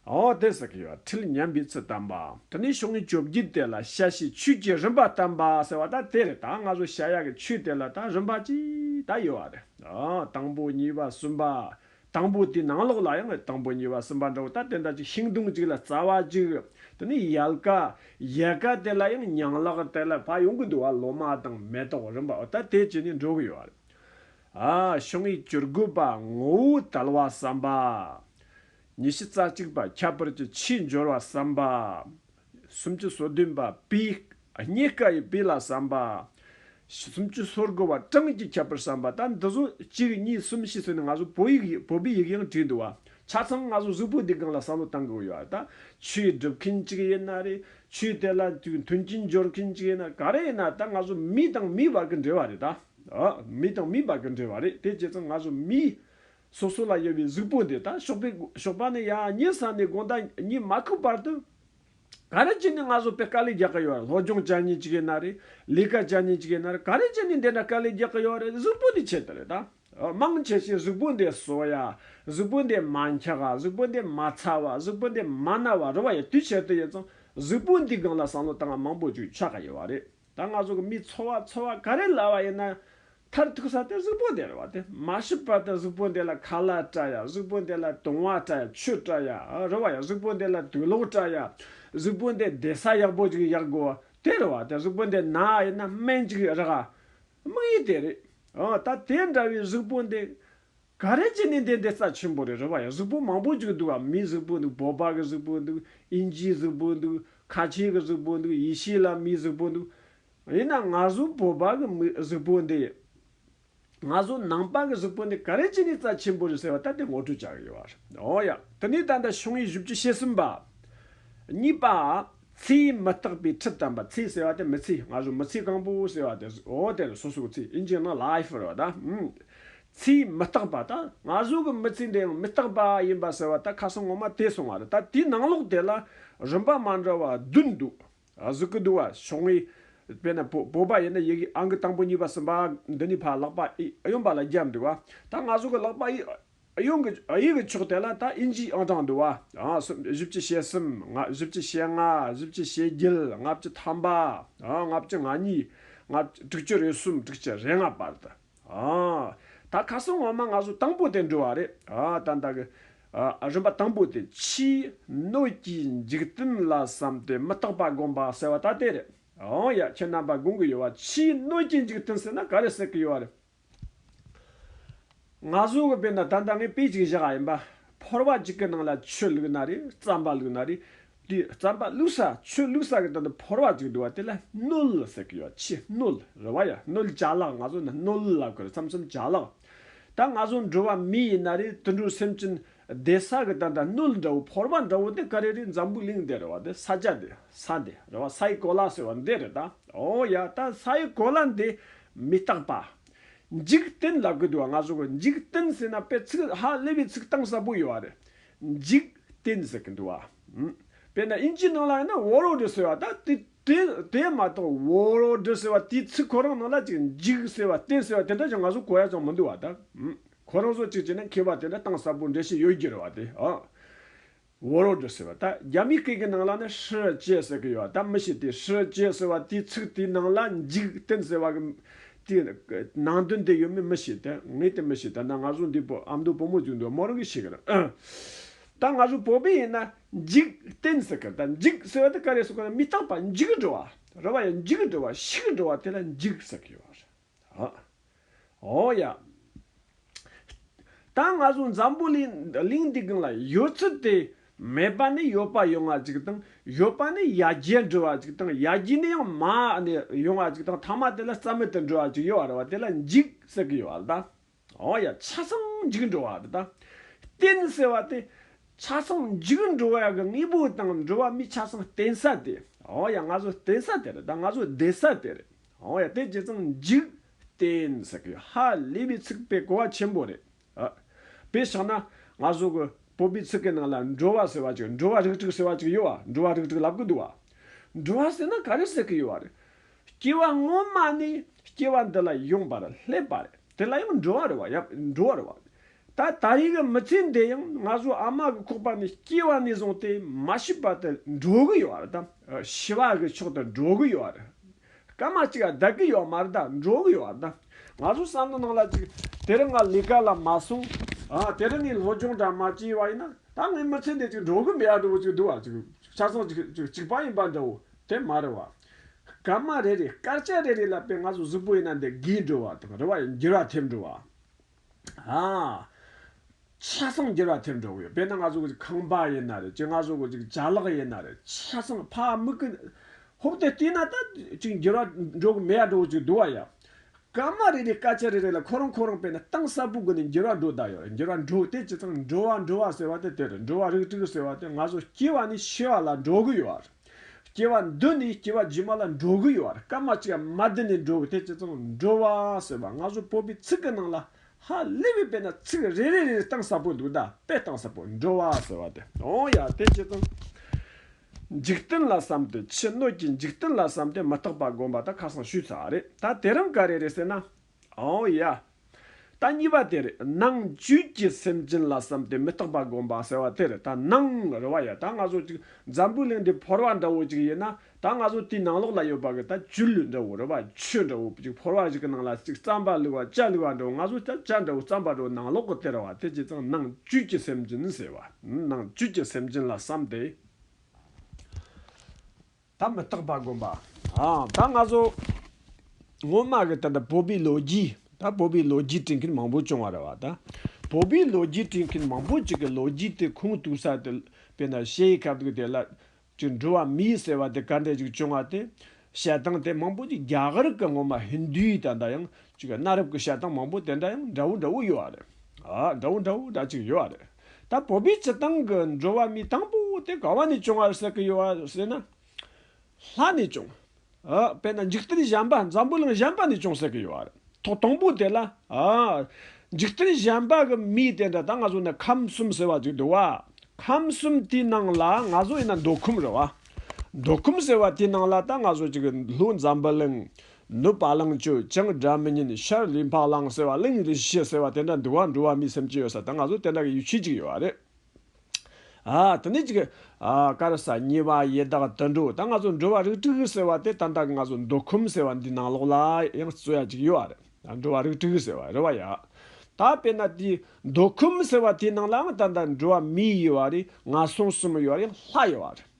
ཨོ་དེ་ཟེར་གྱི་ཡོད་པ་ཁྲིད་ཉན་པའི་ཚུལ་བསྟན་པ། དེ་ནས་ཤོག་ངོས་བཅོ་བརྒྱད་དེ་ལ་ཤ་ཤེད་ཆོས་ཀྱི་རིམ་པ་བསྟན་པ་ཟེར་བ་ད་དེ་རེད་ད་ང་ཚོ་ཤ་ཡག་གི་ཆོས་དེ་ལ་ད་རིམ་པ་གཅིག་ད་ཡོད་བ་རེད། དང་པོ་གཉིས་པ་གསུམ་པ། དང་པོ་དེའི་ནང་ལོགས་ལ་ཡང་དང་པོ་གཉིས་པ་གསུམ་པ་འདྲ་བོ་ལྟར་དེ་འདྲ་ཅིག་ཤིང་སྡོང་གཅིག་ལ་རྩ་བ་གཅིག་དེ་ནི་ཡལ་ག། ཡལ་ག་དེ་ལ་ཡང་ཉང་ལག་དེ་ལ་ཕ་ཡོང་གི་འདུག་བ་ལོ་མ་དང་མེ་ཏོག་རིམ་པ་འོ་ད་དེ་བྱས་ནས་འགྲོ་གི་ཡོད་རེད། ཨ། ཤིང་ཡིག་བཅུར་དགོས་པ་ངོ་བོ་དལ་བ་བསམ་པ། ཉི་ཤུ་རྩ་གཅིག་པ་ཁྱད་པར་གྱི་ཕྱིའི་འབྱོར་བ་བསམ་པ། སུམ་ཅུ་སོ་བདུན་པ་པི། རྙེད་དཀའ་ཡི་པི་ལ་བསམ་པ། སུམ་ཅུ་སོར་དགུ་བ་ཀྲང་གིས་ཁྱབ་པར་བསམ་པ་ལྟར་འདི་སོ་གཅིག་གཉིས་གསུམ་བཞི་ཚུན་ནས་ང་ཚོ་བོད་ཡིག་བོད་པའི་ཡིག་ཡང་བྲིས་འདུག་བ། ཆ་ཚང་ང་ཚོ་གཟུགས་པོ་འདི་སྒང་ལ་བསམ་བློ་གཏང་དགོས་ཡོད་ད། ཆོས་སྒྲུབ་མཁན་གཅིག་ཡིན་ན་རེད། ཆོས་དེ་ལ་མཐུན་རྐྱེན་སྦྱོར་མཁན་གཅིག་ཡིན་ན་ག་རེ་ཡིན་ན་ད་ང་ཚོ་མི་དང་མིའི་བར་གྱི་འབྲེལ་བ་རེད་ད། མི་དང་མིའི་བར་གྱི་འབྲེལ་བ་རེད་དེ་བྱས་ཙང་ང་ཚོ་མིའི། སོ་སོ་ལ་ཡོད་པའི་གཟུགས་པོ་འདི་དང་ཞོགས་པའི་ཞོགས་པ་ནི་ཡང་ཉིན་སྲང་ནས་དགོང་དག་གཉིད་མ་ཁུག་བར་དུ། ག་རེ་བྱས་ནས་ང་བཟོ་པའི་དཀའ་ལས་རྒྱག་གི་ཡོད་རེད་སློབ་སྦྱོང་བྱ་ཉིན་གཅིག་ཡིན་ན་རེད་ལས་ཀ་བྱ་ཉིན་གཅིག་ཡིན་ན་རེད་ག་རེ་བྱས་ནས་འདི་འདྲ་དཀའ་ལས་རྒྱག་གི་ཡོད་རེད་གཟུགས་པོ་འདི་ཆད་དུ་རེད་དཱ། མང་ཆེ་ཤས་གཟུགས་པོ་འདི་བཟོ་ཡ། གཟུགས་པོ་འདི་མ་འཁྱག་ག་གཟུགས་པོ་འདི་མ་ཚ་བ་གཟུགས་པོ་འདི་མ་ན་བ་རུ་བ་ཡི་དུས་ཆད་དུ་ཡོད་ཙང་གཟུགས་པོ་འདི་སྒང་ལ་བསམ་བློ་བཏང་བ་མང་པོ་བྱུང་ཆགས་གི་ཡོད་རེད། ད་ང་ཚོ་གི་མིའི་འཚོ་བ་འཚོ་བ་ག་རེ་ལ་བ་ཡིན་ན། མཐར་ཐུག་ས་དེ་གཟུགས་པོ་འདི་རེད་བ་དེ་མ་ཤི་བར་དུ་གཟུགས་པོ་འདི་ལ་ཁ་ལག་སྤྲ་ཡ་གཟུགས་པོ་འདི་ལ་དུང་བ་སྤྲ་ཡ་ཆུ་སྤྲ་ཡ་རེད་བ་ཡ་གཟུགས་པོ་འདི་ལ་དུས་ལོག་སྤྲ་ཡ་གཟུགས་པོ་འདི་བདེ་ས་ཡག་པོ་ཅིག་ཡག་དགོས་བ་དེ་རེད་བ་དེ་གཟུགས་པོ་འདི་ན་ཡིན་ན་སྨན་ཅིག་རག་དམིགས་ཡུལ་དེ་རེད། ད་དེ་འདྲ་བའི་གཟུགས་པོ་འདི་ག་རེ་བྱས་ནས་འདི་འདི་རྩ་ཆེན་པོ་རེད་རེད་བ་ཡང་གཟུགས་པོ་མང་པོ་བཅུག་འདུག་བ་མིའི་གཟུགས་པོ་འདུག་བོད་པ་གི་གཟུགས་པོ་འདུག་ཨིན་ཇིའི་གཟུགས་པོ་འདུག་ཁ་ཆེའི་གི་གཟུགས་པོ་འདུག་ཡེ་ཤེས་ལ་མིའི་གཟུགས་པོ་འདུག་ཡིན་ནང་ང་གཟུགས་བོད་པ་གི་མི་གཟུགས་པོ་འདི་ཡིན་ང་གཟུགས་ནང་པ་གི་གཟུགས་པོ་འདི་ག་རེ་བྱས་ནས་རྩ་ཆེན་པོ་རེད་ཟེར་བ་ད་དེ་ངོ་སྤྲོད་བྱ་གི་ཡོད་བ་རེད་འོ་ཡ་དེ་ནས་ད་ལྟ་ཕྱོགས་ངེས་བཞི་བཅུ་ཞེ་གསུམ་པ། གཉིས་པ། ཚེ་ཡི་མི་རྟག་པའི་ཁྲིད་དམ་པ་ཚེ་ཟེར་བ་དེ་མི་ཚེ་ང་གཟུགས་མི་ཚེ་གང་པོ་ཟེར་བ་དེ་ཨོ་དེ་ལ་སོ་སོའི་ཚེ་ཨིན་ཇི་ནང life རེད་བ་ད། ཚིག་མི་རྟག་པ་དང་ན་ཟུག་གི་མི་ཚིག་འདི་ཡང་མི་རྟག་པ་ཡིན་པ་ཟེར་བ་ད་ཁ་སང་ངོ་མ་དེ་སོང་བ་རེད་ད་དེའི་ནང་ལོགས་དེ་ལ་རིམ་པ་མ་འདྲ་བ་བདུན་འདུག་གཟུགས་ཀྱི་འདུག་བ་ཕྱོགས་ངེས་པས་ན་བོད་པ་ཡིན་ན་ཡི་གེ་ཨང་ཀི་དང་པོ་གཉིས་པ་གསུམ་པ་འདི་ནས་ཕར་ལག་པ་ཨི་གཡོན་པ་ལ་བརྒྱབ་འདུག་བ་ད་ན་ཟུག་གི་ལག་པ་ཨི་གཡོན་གྱི་ཡི་གི་ཕྱོགས་དེ་ལ་ད་ཨིན་ཇིའི་ཨང་དྲངས་འདུག་བ་གསུམ་བཞི་བཅུ་ཞེ་གསུམ་ལྔ་བཞི་བཅུ་ཞེ་ལྔ་བཞི་བཅུ་ཞེ་བརྒྱད་ལྔ་བཅུ་ཐམ་པ་ལྔ་བཅུ་ང་གཉིས་ལྔ་བཅུ་དྲུག་ཅུ་རེ་གསུམ་དྲུག་ཅུ་རེ་ལྔ་བར་དུ། ད་ཁ་སང་ངོ་མ་ང་ཚོ་དང་པོ་དེ་འགྲོ་བ་རེད་ད། རིམ་པ་དང་པོ་དེ་ཕྱིའི་སྣོད་ཀྱི་འཇིག་རྟེན་ལ་བསམ་སྟེ་མི་རྟག་པ་སྒོམ་པ་ཟེར་བ་ད་དེ་རེད། འོ་ཡ་ཁྱེད་རྣམ་པ་དགོངས་ཀྱི་ཡོད་བ་ཕྱིའི་སྣོད་ཀྱི་འཇིག་རྟེན་ཟེར་ན་ག་རེ་ཟེར་གྱི་ཡོད་བ་རེད། ང་ཚོ་གི་དཔེ་ན་ད་ལྟ་ངས་དཔེ་ཅིག་བཞག་ཨ་ཡིན་པ། ཕོར་བ་ཅིག་གི་ནང་ལ་ཆུ་བླུགས་ན་རེད་རྩམ་པ་བླུགས་ན་རེད་དེའི་རྩམ་པ་བླུག་ས་ཆུ་བླུག་ས་གི་སྟེང་དུ་ཕོར་བ་གཅིག་འདུག་བ་དེ་ལ་སྣོད་ཟེར་གྱི་ཡོད་ཕྱིས་སྣོད་རེད་བ་ཡ་སྣོད་བྱ་ལགས་ང་ཚོ་ནི་སྣོད་ལ་གོ་རེ་ཚམ་ཚུམ་བྱ་ལགས་ད་ང་ཚོ་འགྲོ་བ་མི་ཡིན་ན་རེ་དུད་འགྲོ་སེམས་ཅན་བསྡད་ས་གི་སྟེང་དུ་སྣོད་འདྲ་བོ་ཕོར་བ་འདྲ་བོ་དེ་ག་རེ་རེད་འཛམ་བུ་གླིང་འདི་རེད་བ་དེ་ས་ཆ་འདི་ས་འདི་རེད་བ་སའི་གོ་ལ་ཟེར་བ་འདི་རེད་ད་ཨོ་ཡ་ད་སའི་གོ་ལ་འདི་མི་རྟག་པ། འཇིག་རྟེན་ལ་གོ་འདུག་བ་ང་ཚོ་གོ་འཇིག་རྟེན་ཟེར་ན་པའི་ཚིག་ཧ་ལས་པའི་ཚིག་གཏང་ས་པོ་ཡོད་བ་རེད་འཇིག་རྟེན་ཟེར་གི་འདུག་བ། དཔེར་ན་དབྱིན་ཇིའི་ནང་ལ་ཡང་ན་བོ་རོ་འདྲི་ཟེར་བ་དང་དེ་མ་གཏོགས་བོ་རོ་འདྲི་ཟེར་བ་དེའི་ཚིག་ཁོ་རང་ནང་ལ་ཅིག་འཇིག་ཟེར་བ་རྟེན་ཟེར་བ་དེ་འདྲ་ཞིག་ང་ཚོ་གོ་ཡ་ཙང་མི་འདུག་བ་དང། ཁོ་རང་ཚོ་ཅིག་བྱས་ན་མཁས་པ་དེ་འདྲ་གཏང་གསར་པོ་འདྲེ་ཞིག་ཡོད་རྒྱུ་རེད་བ་དེ། བོ་རོ་འདྲི་ཟེར་བ་དང་རྒྱ་མི་སྐད་ཀྱི་ནང་ལ་ནི་ཧྲི་ཅེ་ཟེར་གི་ཡོད་བ་དང་མི་ཞིག་དེ་ཧྲི་ཅེ་ཟེར་བ་དེའི་ཚིག་དེའི་ནང་ལ་འཇིག་རྟེན་ཟེར་བ་གི་དེ་ནང་དོན་དེ་ཡོད་མེད་མི་ཤེས་ཏེ་ངས་དེ་མི་ཤེས་ད་ནང་ང་ཟུག་འདི་པོ་ཨ་མདོ་བུ་མོ་བཅུག་འདུག་མོ་རང་གིས་ཤེས་གི་རེད་ཨ། ད་ང་ཟུག་བོད་པའི་ཡིན་ན་འཇིག་རྟེན་ཟེར་གི་ད་འཇིག་ཟེར་བ་དེ་ག་རེ་ཟུག་གི་ན་མི་རྟག་པ་འཇིག་གི་འགྲོ་བ་རེད་བ་ཡ་འཇིག་གི་འགྲོ་བ་ཤི་གི་འགྲོ་བ་དེ་ལ་འཇིག་ཟེར་གི་ཡོད་རེད་ཨ། ཨོ་ཡ། ད་ང་ཚོ་འཛམ་བུ་གླིང་གླིང་འདི་གང་ལ་ཡོད་ཚུལ་དེ་མེད་པ་ནི་ཡོད་པ་ཡོང་བ་ཅིག་དང་ཡོད་པ་ནི་ཡར་རྒྱས་འགྲོ་བ་ཅིག་དང་ཡར་རྒྱས་ནི་ཡང་མར་ནི་ཡོང་བ་ཅིག་དང་མཐའ་མ་དེ་ལ་རྩ་མེད་དུ་འགྲོ་བ་ཅིག་ཡོད་རེད་བ་དེ་ལ་འཇིག་ཟེར་གི་ཡོད་རེད་ད། འོ་ཡ་ཆ་ཚང་འཇིག་འགྲོ་བ་རེད་ད། རྟེན་ཟེར་བ་དེ་ཆ་ཚང་འཇིག་འགྲོ་བའི་གི་དངོས་པོ་དང་འགྲོ་བ་མིའི་ཆ་ཚང་རྟེན་ས་དེ་འོ་ཡ་ང་ཚོ་རྟེན་ས་དེ་རེད་ད་ང་ཚོ་བསྡད་ས་དེ་རེད་འོ་ཡ་དེ་ཇི་ཙམ་འཇིག་བསྟན་ཟེར་གི་ཧ་ལས་པའི་ཚིག་དཔེ་གོ་བ་ཆེན་པོ་རེད། དཔེ་ཆགས་ན་ང་བཟོ་གི་བོད་པའི་ཚིག་གི་ནང་ལ་འགྲོ་བ་ཟེར་བ་ཅིག་འགྲོ་བ་རིགས་དྲུག་ཟེར་བ་ཅིག་ཡོད་བ་འགྲོ་བ་རིགས་དྲུག་ལབ་གི་འདུག་བ། འགྲོ་བ་ཟེར་ན་ག་རེ་ཟེར་གི་ཡོད་བ་རེད། སྐྱེ་བ་སྔོན་མ་ནས་སྐྱེ་བ་འདི་ལ་ཡོང་བར་སླེབས་པ་རེད་དེ་ལ་ཡང་འགྲོ་བ་རེད་བ་ཡབ་འགྲོ་བ་རེད་བ། ད་ད་ཡིག་གི་མི་ཚེ་འདི་ཡང་ང་ཚོ་ཨ་མ་གི་ཁོག་པ་ནས་སྐྱེས་བ་ནས་བཟུང་སྟེ་མ་ཤི་བར་དུ་འགྲོ་གི་ཡོད་རེད་དམ། ཤི་བ་གི་ཕྱོགས་དུ་འགྲོ་གི་ཡོད་རེད། སྐར་མ་གཅིག་བདག་གི་ཡོད་མ་རེད་ད་འགྲོ་གི་ཡོད་རེད་ད། ང་ཚོ་བསམ་བློ་གནང་ལ་ཅིག་དེ་རིང་ང་ལས་ཀ་ལ་མ་སོང། དེ་རིང་ངས་སློབ་སྦྱོང་འདྲ་མ་བྱས་བ་ཡིན་ན་ད་ངའི་མི་ཚེ་འདི་ཅིག་འགྲོ་གི་མེད་འགྲོ་གི་ཅིག་འདུག་ཅིག་ཆ་ཚང་ཅིག་གཅིག་པ་ཡིན་པ་འདྲ་བོ་དེ་མ་རེད་བ། སྐར་མ་རེ་རེ་སྐར་ཆ་རེ་རེ་ལ་དཔེ་ང་ཚོ་གཟུགས་པོ་ཡིན་ན་འདི་རྒས་འགྲོ་བ་དང་རེ་བ་ཡང་འགྱུར་བ་ཐེབས་འགྲོ་བ། ཆ་ཚང་བསྒྱུར་བ་ཐེབས་འགྲོ་གི་ཡོད་དཔེར་ན་ང་ཚོ་གི་ཁང་པ་ཡིན་ན་རེད་ཅིག་ང་ཚོ་གི་ཅིག་བྱ་གླག་ཡིན་ན་རེད་ཆ་ཚང་ཕ་མི་གི་ཧོབ་དེ་བལྟས་ན་ད་ཅིག་འགྱུར་བ་འགྲོ་གི་མེད་ཡ་འགྲོ་གི་ཅིག་འདུག་བ་ཡ། སྐར་མ་རེ་རེའི་སྐད་ཆ་རེ་རེ་ལ་ཁོ་རང་ཁོ་རང་དཔེར་ན་གཏིང་ཟབ་པོ་སྒོ་ནས་འགྱུར་བ་འགྲོ་ད་ཡོད་རེད་འགྱུར་བ་འགྲོ་དེ་ཇི་ཙམ་འགྲོ་བ་འགྲོ་བ་ཟེར་བ་དེ་དེ་རེད་འགྲོ་བ་རིགས་དྲུག་ཟེར་བ་དེ་ང་ཚོ་སྐྱེ་བ་ནས་ཤི་བ་ལ་འགྲོ་གི་ཡོད་རེད། སྐྱེ་བ་འདི་ནི་སྐྱེ་བ་རྗེས་མ་ལ་འགྲོ་གི་ཡོད་བར་སྐར་མ་གཅིག་མ་བསྡུས་ནས་འགྲོ་གི་ཐེག་ཆེ་ཚང་འགྲོ་བ་ཟེར་བ་སྔ་སོར་བོད་པའི་ཚིག་གི་ནང་ལ་ཧ་ལས་པའི་དཔེ་ན་ཚིག་རེ་རེ་རེ་རེ་གཏང་ས་པོ་འདུག་ད་དཔེ་གཏང་ས་པོ་འགྲོ་བ་ཟེར་བ་དེ་འོང་ཡ་ཐེག་ཆེ་ཚང། འཇིག་རྟེན་ལ་བསམ་ཏེ་ཕྱི་སྣོད་ཀྱི་འཇིག་རྟེན་ལ་བསམ་ཏེ་མི་རྟག་པ་སྒོམ་པ་ད་ཁ་སང་ཞུས་ཚར་བ་རེད་ད་དེ་རིང་ག་རེ་རེད་ཟེར་ན། ཨོ་ཡ། ད་གཉིས་པ་དེ་རེད། ནང་བཅུད་ཀྱི་སེམས་ཅན་ལ་བསམ་སྟེ་མི་རྟག་པ་བསྒོམ་པ་ཟེར་བ་དེ་རེད་ད་ནང་རེ་བ་ཡ་ད་ང་ཚོ་ཅིག་འཛམ་བུའི་གླིང་འདི་ཕོར་བ་འདྲ་བོ་ཅིག་ཡིན་ན་ད་ང་ཚོ་དེའི་ནང་ལོགས་ལ་ཡོད་པ་གི་ད་བཅུད་ལུས་འདྲ་བོ་རེ་བ་ཆུ་འདྲ་བོ་ཅིག་ཕོར་བ་ཞིག་གི་ནང་ལ་ཅིག་རྩམ་པ་ལུས་བ་ལྕགས་ལུས་བ་འདྲ་བོ་ང་ཚོ་ད་ལྕགས་འདྲ་བོ་རྩམ་པ་འདྲ་བོ་ནང་ལོགས་གི་དེ་རེ་བ་དེ་ཇི་ཙང་ནང་བཅུད་ཀྱི་སེམས་ཅན་ཟེར་བ་ནང་བཅུད་ཀྱི་སེམས་ཅན་ལ་བསམ་སྟེ། ད་མི་རྟག་པ་དགོན་པ། ད་ང་ཚོ་སྔོན་མ་གི་ད་བོད་པའི་ལོ་རྒྱུས། ད་བོད་པའི་ལོ་རྒྱུས་བྲིས་མཁན་མང་པོ་བྱུང་བ་རེད་བ། ད་བོད་པའི་ལོ་རྒྱུས་བྲིས་མཁན་མང་པོ་ཅིག་གི་ལོ་རྒྱུས་དེ་ཁུངས་གཏུགས་ས་དེ་དཔེར་ན་ཤེ་ཡི་ཁ་བརྡ་གི་དེ་ལ་ཅིག་འགྲུལ་བ་མིའི་ཟེར་བ་དེ་ག་འདྲས་ཅིག་བྱུང་བ་དེ། བཤད་སྟངས་དེ་མང་པོ་ཅིག་རྒྱ་གར་གི་སྔོན་མ་ཧིན་དུའི་ད་ད་ཡང་ཅིག་གནའ་རབས་ཀྱི་བཤད་སྟངས་མང་པོ་དེ་འདྲ་ཡང་འདྲ་བོ་འདྲ་བོ་ཡོད་བ་རེད། འདྲ་བོ་འདྲ་བོ་འདྲ་ཅིག་ཡོད་བ་རེད། ད་བོད་པའི་སྤྱི་སྟངས་ཀྱི་འགྲོ་བ་མི་དང་པོ་དེ་ག་བ་ནས་བྱུང་བར་ཟེར་གྱི་ཡོད་བ་ཟེར་ན། ལྷ་ནས་བྱུང། དཔེར་ན་འཇིག་རྟེན་གཞན་པ་འཛམ་བུ་གླིང་གཞན་པ་ནས་བྱུང་ཟེར་གྱི་ཡོད་བ་རེད། ཐོག་དང་པོ་དེ་ལ། འཇིག་རྟེན་གཞན་པ་གི་མི་དེ་འདྲ་ད་ང་ཚོ་ནས་ཁམས་གསུམ་ཟེར་བ་ཅིག་འདུག་བ། ཁམས་གསུམ་དེའི་ནང་ལ་ང་ཚོ་ཡིན་ན་མདོ་ཁམས་རེད་བ། མདོ་ཁམས་ཟེར་བ་དེའི་ནང་ལ་ད་ང་ཚོ་ཅིག་ལྷོའི་འཛམ་བུ་གླིང། གནོད་པ་ལངས་སྤྱོད་སྤྱང་སྦྲ་མི་ཉན་ཤར་ལུས་འཕགས་ལངས་ཟེར་བ་གླིང་ཡུལ་དུ་ཤི་ཟེར་བ་དེ་འདྲ་འདུལ་བ་འགྲོ་བ་མིའི་སེམས་ཀྱི་ཡོད་ས་དང་ང་ཚོ་དེ་འདྲ་གི་ཡུལ་ཤུལ་ཅིག་ཡོད་བ་རེད། ཨ་དེ་ནས་ཅིག། ཨ་ཀར་ས་ཉི་བ་ཡེ་དག་དུད་འགྲོ་ད་ང་ཚོ་འགྲོ་བ་རིགས་དྲུག་ཟེར་བ་དེ་ད་ལྟ་གི་ང་ཚོ་འདོད་ཁོམ་ཟེར་བ་འདི་ནང་ལོགས་ལ་ཡང་རྩོད་ཡ་ཅིག་ཡོད་བ་རེད་འགྲོ་བ་རིགས་དྲུག་ཟེར་བ་རེད་བ་ཡ། ད་དཔེར་ན་དེ་འདོད་ཁོམ་ཟེར་བ་དེའི་ནང་ལའང་ད་ལྟ་འགྲོ་བ་མི་ཡོད་བ་རེད་ང་སོང་གསུམ་ཡོད་བ་རེད་ལྷ་ཡོད་བ་རེད།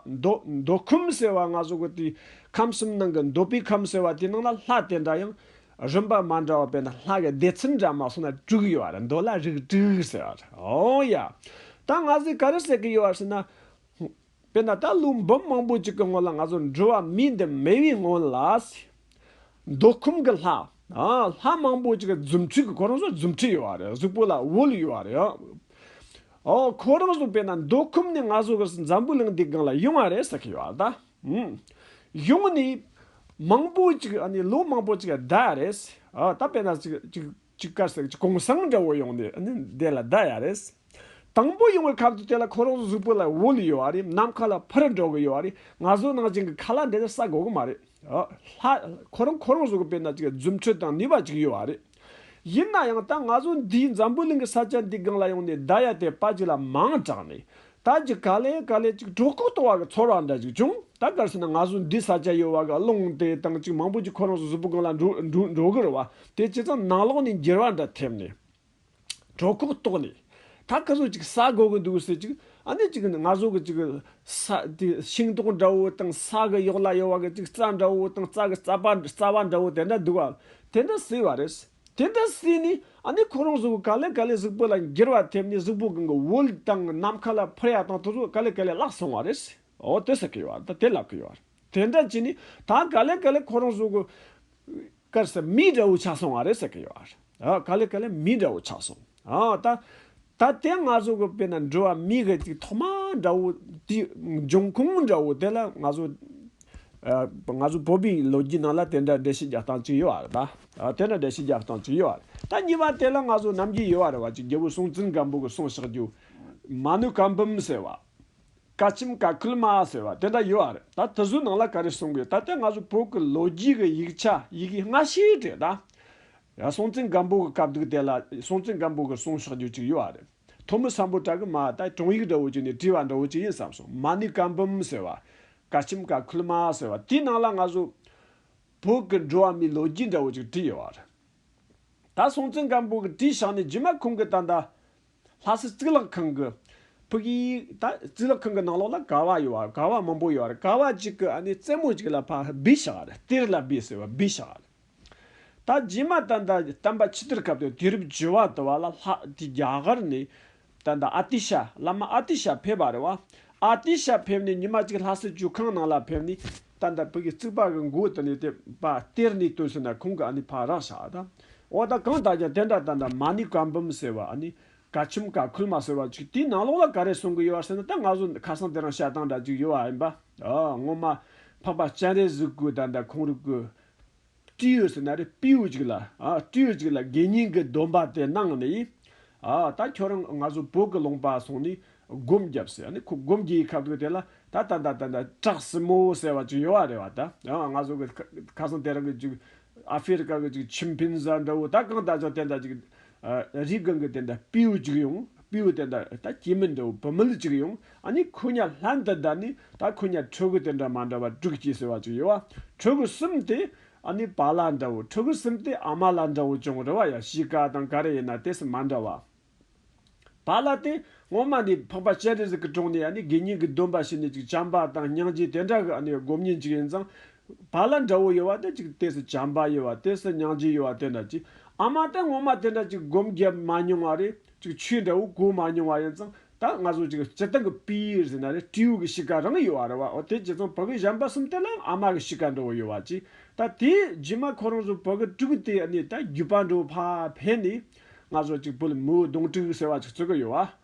མདོ་ཁམས་ཟེར་བ་སྔ་བཟོ་གི་དུས་ཁམས་གསུམ་ནང་གི་མདོ་པའི་ཁམས་ཟེར་བ་དེའི་ནང་ལ་ལྷ་དེ་འདྲ་ཡང་རིམ་པ་མ་འདྲ་བ་པས་ན་ལྷ་གི་སྡེ་ཚན་འདྲ་མ་སོང་ན་དྲུག་ཡོད་རེད་མདོ་ལ་རིགས་དྲུག་ཟེར་བ་རེད་ཨོ་ཡ། ད་ང་ཚོས་ག་རེ་ཟེར་གི་ཡོད་ཟེར་ན། དཔེར་ན་ད་ཀླུ་འབུམ་མང་པོ་ཅིག་གི་སྔོན་ལ་ང་ཚོ་འགྲོ་བ་མིའི་འདི་མེད་པའི་སྔོན་ལ། མདོ་ཁམས་ཀྱི་ལྷ། ལྷ་མང་པོ་ཅིག་གི་རྫུ་འཕྲུལ་གྱི་ཁོ་རང་ཚོ་རྫུ་འཕྲུལ་ཡོད་རེད་གཟུགས་པོ་ལ་དབུལ་ཡོད་རེད། ཨོ་ཁོ་རང་བཟོ་པས་ན་མདོ་ཁུམ་ནས་ང་བཟོ་བར་སུ་འཛམ་བུ་གླིང་འདི་སྒང་ལ་ཡོང་བ་རེད་ཟེར་གི་ཡོད་ད། ཡོང་ནས་མང་པོ་ཅིག་ཨ་ནི་ལོ་མང་པོ་ཅིག་བསྡད་རེད། ད་དཔེར་ན་ཅིག་ཀ་ཟེར་གི་གོང་སངས་འདྲ་བོ་ཡོང་ནས་ཨ་ནི་དེ་ལ་བསྡད་ཡ་རེད། དང་པོ་ཡོང་བའི་ཁབ་ཏུ་དེ་ལ་ཁོ་རང་བཟོ་བོ་ལ་འོ་ལི་ཡོད་བ་རེད་ནམ་མཁའ་ལ་འཕུར་འགྲོ་གི་ཡོད་བ་རེད་ང་བཟོ་གནང་བྱིན་གི་ཁ་ལ་འདི་ལ་ཟ་དགོ་གི་མ་རེད། ལྷ། ཁོ་རང་ཁོ་རང་བཟོ་པས་ན་ཅིག་རྫུ་འཕྲུལ་དང་ནུས་པ་ཅིག་ཡོད་བ་རེད། ཡིན་ན་ཡང་ད་ང་ཟོ་འདིའི་འཛམ་བུའི་གླིང་གི་ས་ཆ་འདི་སྒང་ལ་ཡོང་ནས་བརྡ་ཡ་དེ་དཔའ་གཅིག་ལ་མང་དྲགས་ནས། ད་ཅིག་ག་ལེ་ག་ལེ་ཅིག་གྲོགས་ཁུག་ལྟོ་བ་གི་ཚོར་བ་འདྲ་ཅིག་བྱུང། ད་གར་སོང་ན་ང་ཟོ་འདིའི་ས་ཆ་ཡོད་བ་གི་རླུང་དེ་དང་ཅིག་མང་པོ་ཅིག་ཁོ་རང་ཟོ་ཟོ་པོ་སྒང་ལ་འགྲོ་གི་རེད་བ། དེ་ཇི་ཙམ་ནང་ལོགས་ནས་འགྱེལ་བ་འདྲ་ཐེབས་ནས། གྲོགས་ཁུག་ལྟོགས་ནས། ད་སྐལ་བཟོ་ཅིག་ཟ་དགོས་གི་འདུག་ཟེར་ཅིག་ཨ་ནི་ཅིག་ང་བཟོ་གི་ཅིག་ས་དེ་ཤིང་ཏོག་འདྲ་བོ་དང་ས་གི་གཡོག་ལ་གཡོག་བ་གི་ཅིག་རྩྭ་འདྲ་བོ་དང་རྩྭ་གི་རྩ་བ་རྩ་བ་འདྲ་བོ་དེ་འདྲ་འདུག་ཨ་དེ་འདྲ་བཟོས་བ་རེད། དེ་འདྲ་བཟོས་ནས་ཨ་ནི་ཁོ་རང་བཟོ་གི་ག་ལེ་ག་ལེ་གཟུགས་པོ་ལ་འགྱུར་བ་ཐེབས་ནས་གཟུགས་པོ་གང་གི་འོད་དང་ནམ་མཁའ་ལ་འཕུར་ཡ་དང་དུ་གཟུགས་ག་ལེ་ག་ལེ་བརླག་སོང་བ་རེད། འོ་དེ་ཟེར་གི་ཡོད་ཨ་ད་དེ་ལབ་གི་ཡོད། དེ་འདྲ་བྱས་ནས་ད་ག་ལེ་ག་ལེ་ཁོ་རང་བཟོ་གི། སྐར་ས་མི་འདྲ་བོ་ཆགས་སོང་བ་རེད་ཟེར་གི་ཡོད་རེད། ག་ལེ་ག་ལེ་མི་འདྲ་བོ་ཆགས་སོང། ད། ད་དེ་ང་ཚོ་གི་དཔེར་ན་འགྲུལ་བ་མི་གི་ཅིག་ཐོག་མ་འདྲ་བོ་དེ་འབྱུང་ཁུངས་འདྲ་བོ་དེ་ལ་ང་ཚོ། ང་ཚོ་བོད་པའི་ལོ་རྒྱུས་ནང་ལ་དེ་འདྲ་འགྲེལ་བཤད་རྒྱག་སྟངས་ཅིག་ཡོད་རེད་ད། དེ་འདྲ་འགྲེལ་བཤད་རྒྱག་སྟངས་ཅིག་ཡོད་རེད་ད་གཉིས་པ་དེ་ལ་ང་ཚོ་ནམ་རྒྱུན་ཡོད་རེད་བ་ཅིག་རྒྱལ་བོ་སྲོང་བཙན་སྒམ་པོ་གི་གསུང་བཤགས་རྒྱུ། མ་ནུ་གང་བུམ་ཟེར་བ། བཀའ་ཆེམས་བཀའ་ཁུལ་མ་ཟེར་བ་དེ་འདྲ་ཡོད་ཨ་རེད་ད་དེ་ཚོའི་ནང་ལ་ག་རེ་གསུངས་དགོས་ད་ལྟའི་ང་ཚོ་བོད་ཀྱི་ལོ་རྒྱུས་ཀྱི་ཡིག་ཆ་ཡི་གེ་སྔ་ཕྱིའི་འབྲེལ་ད། ཡ་སྲོང་བཙན་སྒམ་པོ་གི་བཀའ་བསྡུར་དེ་ལ་སྲོང་བཙན་སྒམ་པོ་གི་གསུང་ཕྱག་རྒྱུ་གཅིག་ཡོད་ཨ་རེད་ཐོ་མི་སམ་པོ་བྲག་གི་མ་ད་དྲུང་ཡིག་འདྲ་བོ་གཅིག་ནས་བྲིས་བ་འདྲ་བོ་གཅིག་ཡིན་བསམ་སོང་མ་ནི་བཀའ་འབུམ་ཟེར་བ། བཀའ་ཆེམས་བཀའ་ཁུལ་མ་ཟེར་བ་དེའི་ནང་ལ་ང་ཚོ་བོད་ཀྱི་འགྲོ་བ་མིའི་ལོ་རྒྱུས་འདྲ་བོ་གཅིག་བྲིས་ཡོད་ཨ་རེད་ད་སྲོང་བཙན་སྒམ་པོ་གི་བྲིས་ཕྱག་ནི་རྗེས་མ་ཁོང་གི་ད་ད། ལྷ་སའི་གཙུག་ལག་ཁང་གི་ཕུག་ཡིག་ད་གཙུག་ལག་ཁང་གི་ནང་ལོགས་ལ་ཀ་བ་ཡོད་ཀ་བ་མང་པོ་ཡོད་རེད་ཀ་བ་གཅིག་གི་རྩེ་མོ་གཅིག་ལ་ཕག་སྦི་ཞག་རེད་གཏེར་ལ་སྦི་ཟེར་བ་སྦི་ཞག་རེད། ད་རྗེས་མ་ད་ལྟ་བསྟན་པ་ཕྱི་དར་སྐབས་དུ་དུས་རབས་བཅུ་བ་དུ་བ་ལ་ལྷ་དེ་རྒྱ་གར་ནས་ད་ལྟ་ཨ་ཏི་ཤ་བླ་མ་ཨ་ཏི་ཤ་ཕེབས་པ་རེད་བ་ཨ་ཏི་ཤ་ཕེབས་ནས་ཉི་མ་གཅིག་ལྷ་སའི་བཅུ་ཁང་ནང་ལ་ཕེབས་ནས་ད་ལྟ་བོད་ཀྱི་རྩིག་པ་གི་མགོ་དེ་ནས་དེ་བ་སྟེར་ནས་སྟོན་ཟེར་ན་ཁོང་གི་ཨ་ནི་ཕ་རག་ཤ་དང། འོ་ད་གང་ལྟར་ཀྱང་དེ་འདྲ་ད་ནི་མ་ནི་བཀའ་འབུམ་ཟེར་བ་ཨ་ནི། བཀའ་ཁྱིམ་བཀའ་ཁུལ་མ་ཟེར་བ་ཅིག་དེའི་ནང་ལོགས་ལ་ག་རེ་གསུང་གི་ཡོད་བ་ཟེར་ན་ད་ང་ཚོ་ཁ་སང་དེ་རང་བཤད་སྟངས་འདྲ་ཅིག་ཡོད་བ་ཨེ་འབའ། ཨོ་སྔོན་མ་འཕགས་པ་སྤྱན་རས་གཟིགས་སྐུ་ད་ལྟ་ཁོང་རུ་སྐུ། སྤྲེའུ་ཟེར་ན་རེ་སྤེའུ་ཅིག་ལ། སྤྲེའུ་ཅིག་ལ་དགེ་བསྙེན་གྱི་སྡོམ་པ་དེ་གནང་ནས། ད་ཁྱོད་རང་ང་ཚོ་བོད་ཀྱི་ལུང་པ་སོང་ནས་སྒོམ་བརྒྱབ་ཟེར་ནས་ཁོ་སྒོམ་བརྒྱའི་ཁ་དོག་དེ་ལ་ད་ད་ད་ད་ད་གྲགས་སྲིན་མོ་ཟེར་བ་ཅིག་ཡོད་རེད་བ་ད། ང་ཚོ་གི་ཁ་སང་དེ་རང་གི་ཅིག་ཨ་ཧྥེ་རི་ཁ་གི་ཅིག་ཆིམ་ཕན་ཟ་འདྲ་བོ་ད་གང་ད་ཅང་དེ་འདྲ་ཅིག་རིའི་སྒང་གི་དེ་འདྲ་སྤེའུ་གཅིག་ཡང་སྤེའུ་དེ་འདྲ་ད་སྐྱེས་མི་འདུག་བུད་མེད་གཅིག་ཡང་ཨ་ནི་ཁོ་ཉག་ལྷན་དུ་བསྡད་ནས་ད་ཁོ་ཉག་ཕྲུ་གུ་དེ་འདྲ་མ་འདྲ་བ་དྲུག་སྐྱེས་ཟེར་བ་གཅིག་ཡོད་བ་ཕྲུ་གུ་གསུམ་དེ་ཨ་ནི་བ་ལ་འདྲ་བོ་ཕྲུ་གུ་གསུམ་དེ་ཨ་མ་ལ་འདྲ་བོ་ཅང་རེ་བ་ཡ་གཞིས་ཀ་དང་ག་རེ་ཡིན་ན་དེ་སུ་མ་འདྲ་བ། བ་ལ་དེ་སྔོན་མ་ནས་འཕགས་པ་སྤྱན་རས་གཟིགས་ཀྱི་དྲུང་ནས་ཨ་ནི་དགེ་བསྙེན་གྱི་སྡོམ་པ་བྱས་ནས་ཅིག་བྱམས་པ་དང་སྙིང་རྗེ་དེ་འདྲ་གི་ཨ་ནི་སྒོམ་ཉིན་གཅིག་ཡིན་ཙང་བ་ལ་འདྲ་བོ་ཡོད་བ་དེ་ཅིག་དེ་སུ་བྱམས་པ་ཡོད་བ་དེ་སུ་སྙང་རྗེ་ཡོད་བ་དེ་འདྲ་ཅིག་ཨ་མ་དེ་ངོ་མ་དེ་འདྲ་ཅིག་སྒོམ་བརྒྱབ་མ་མྱོང་བ་རེད་ཅིག་ཆོས་འདྲ་བོ་གོ་མ་མྱོང་བ་ཡིན་ཙང་ད་ང་ཚོ་ཅིག་སྤྱི་བཏང་གི་པིར་ཟེར་ན་རེད་སྤྲེའུ་གི་གཤིས་ཀ་རང་ཡོད་བ་རེད་བ་འོ་དེ་ཅིག་ཙང་བོད་གི་བྱམས་པ་གསུམ་དེ་ལའང་ཨ་མ་གི་གཤིས་ཀ་འདྲ་བོ་ཡོད་བ་ཅིག་ད་དེ་རྗེས་མ་ཁོ་རང་ཚོ་བོད་གི་སྤྲུལ་སྐུ་དེ་ནས་ད་བརྒྱུད་པ་འདྲ་བོ་ཕ་ཕེབས་ནས་ང་ཚོ་ཅིག་བོད་མིའོ་གདོང་དྲུག་ཟེར་བ་ཅིག་རྩོད་ཀི་ཡོད་བ།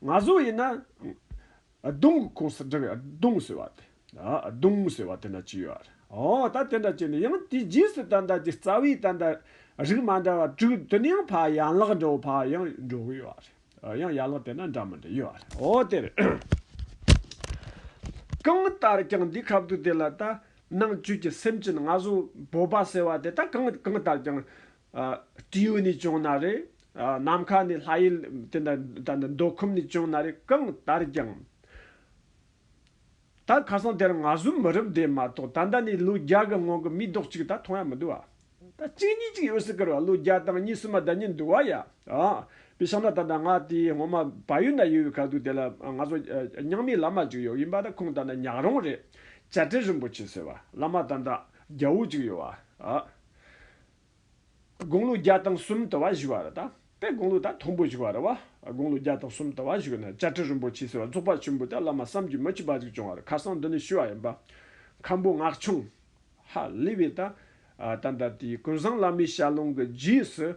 ན་ཟུག་ཡིན་ན། གདུང་གི་ཁུངས་སུ་འགྲེལ་བའི་གདུང་ཟེར་བ་དེ། གདུང་ཟེར་བ་དེ་འདྲ་བྱས་ཡོད། འོ་ད་དེ་འདྲ་བྱས་ནས་ཡང་དེའི་རྗེས་སུ་ད་ལྟ་ཀྱི་རྩ་བའི་ད་ལྟ་རིགས་མ་འདྲ་བ་དྲུག་དེ་ནི་ཡང་ཕ་ཡན་ལག་འདྲ་བོ་ཕ་ཡང་འགྲོ་གི་ཡོད་རེད། ཡང་ཡན་ལག་དེ་འདྲ་འདྲ་མི་འདྲ་ཡོད་རེད། འོ་དེར། གང་ལྟར་ཀྱང་འདིའི་ཁབ་ཏུ་དེ་ལ་ད་ནང་བཅུད་ཀྱི་སེམས་ཅན་ན་ཟུག་བོད་པ་ཟེར་བ་དེ་ད་གང་ལྟར་ཀྱང་སྤྲེའུ་ནི་བྱུང་ན་རེ། ནམ་མཁའ་ནི་ལྷ་ཡུལ་དེ་འདྲ་དང་འདྲ་མདོ་ཁམས་ནི་བྱུང་ན་རེ་གང་ལྟར་ཀྱང། ད་ཁ་སང་དེར་ང་ཟོམ་མི་རབས་འདས་མ་གཏོགས་ད་ལྟ་ནས་ལོ་བརྒྱ་གི་སྔོན་གྱི་མིའི་རྡོག་གཅིག་ད་མཐོང་ཡ་མི་འདུག་ཨ། ད་གཅིག་གཉིས་ཅིག་ཡོད་སྲིད་ཀི་རོ་ལོ་བརྒྱ་དང་གཉིས་གསུམ་མ་ད་ཉིད་འདུག་བ་ཡ། བི་ཤང་ན་ད་ལྟ་ང་དེའི་སྔོན་མ་བ་ཡུལ་ན་ཡོད་བའི་ཁ་ཐུག་དེ་ལ་ང་ཚོ་རྙང་མའི་བླ་མ་ཅིག་ཡོད་ཡིན་པ་ད་ཁོང་ད་ལྟ་ཉག་རོང་རེད། བྱ་བྲལ་རིན་པོ་ཆེ་ཟེར་བ་བླ་མ་ད་ད་རྒྱ་བོ་ཅིག་ཡོད་བ་ཨ། དགུང་ལོ་བརྒྱ་དང་གསུམ་དུ་བ་བཞུགས་བ་རུ་དང། དེ་དགུང་ལོ་དང་དང་པོ་བཞུགས་བ་རུ་བ་དགུང་ལོ་བརྒྱ་དང་གསུམ་དུ་བ་བཞུགས་ན་བཅའ་ཁྲི་རིན་པོ་ཆེ་ཟེར་བ་རྫོགས་པ་ཆེན་པོ་དེ་བླ་མ་བསམ་རྒྱུད་མི་གཅིག་པ་ཞིག་བྱུང་བ་རུ་ཁ་སང་འདི་ནས་ཞུས་བ་ཡིན་པ། མཁན་པོ་སྔགས་ཕྱུང། ཧ་ལི་བའི། ད་ལྟ་དེའི་ཀུན་བཟང་བླ་མའི་ཞལ་ལུང་གི་རྗེས་སུ།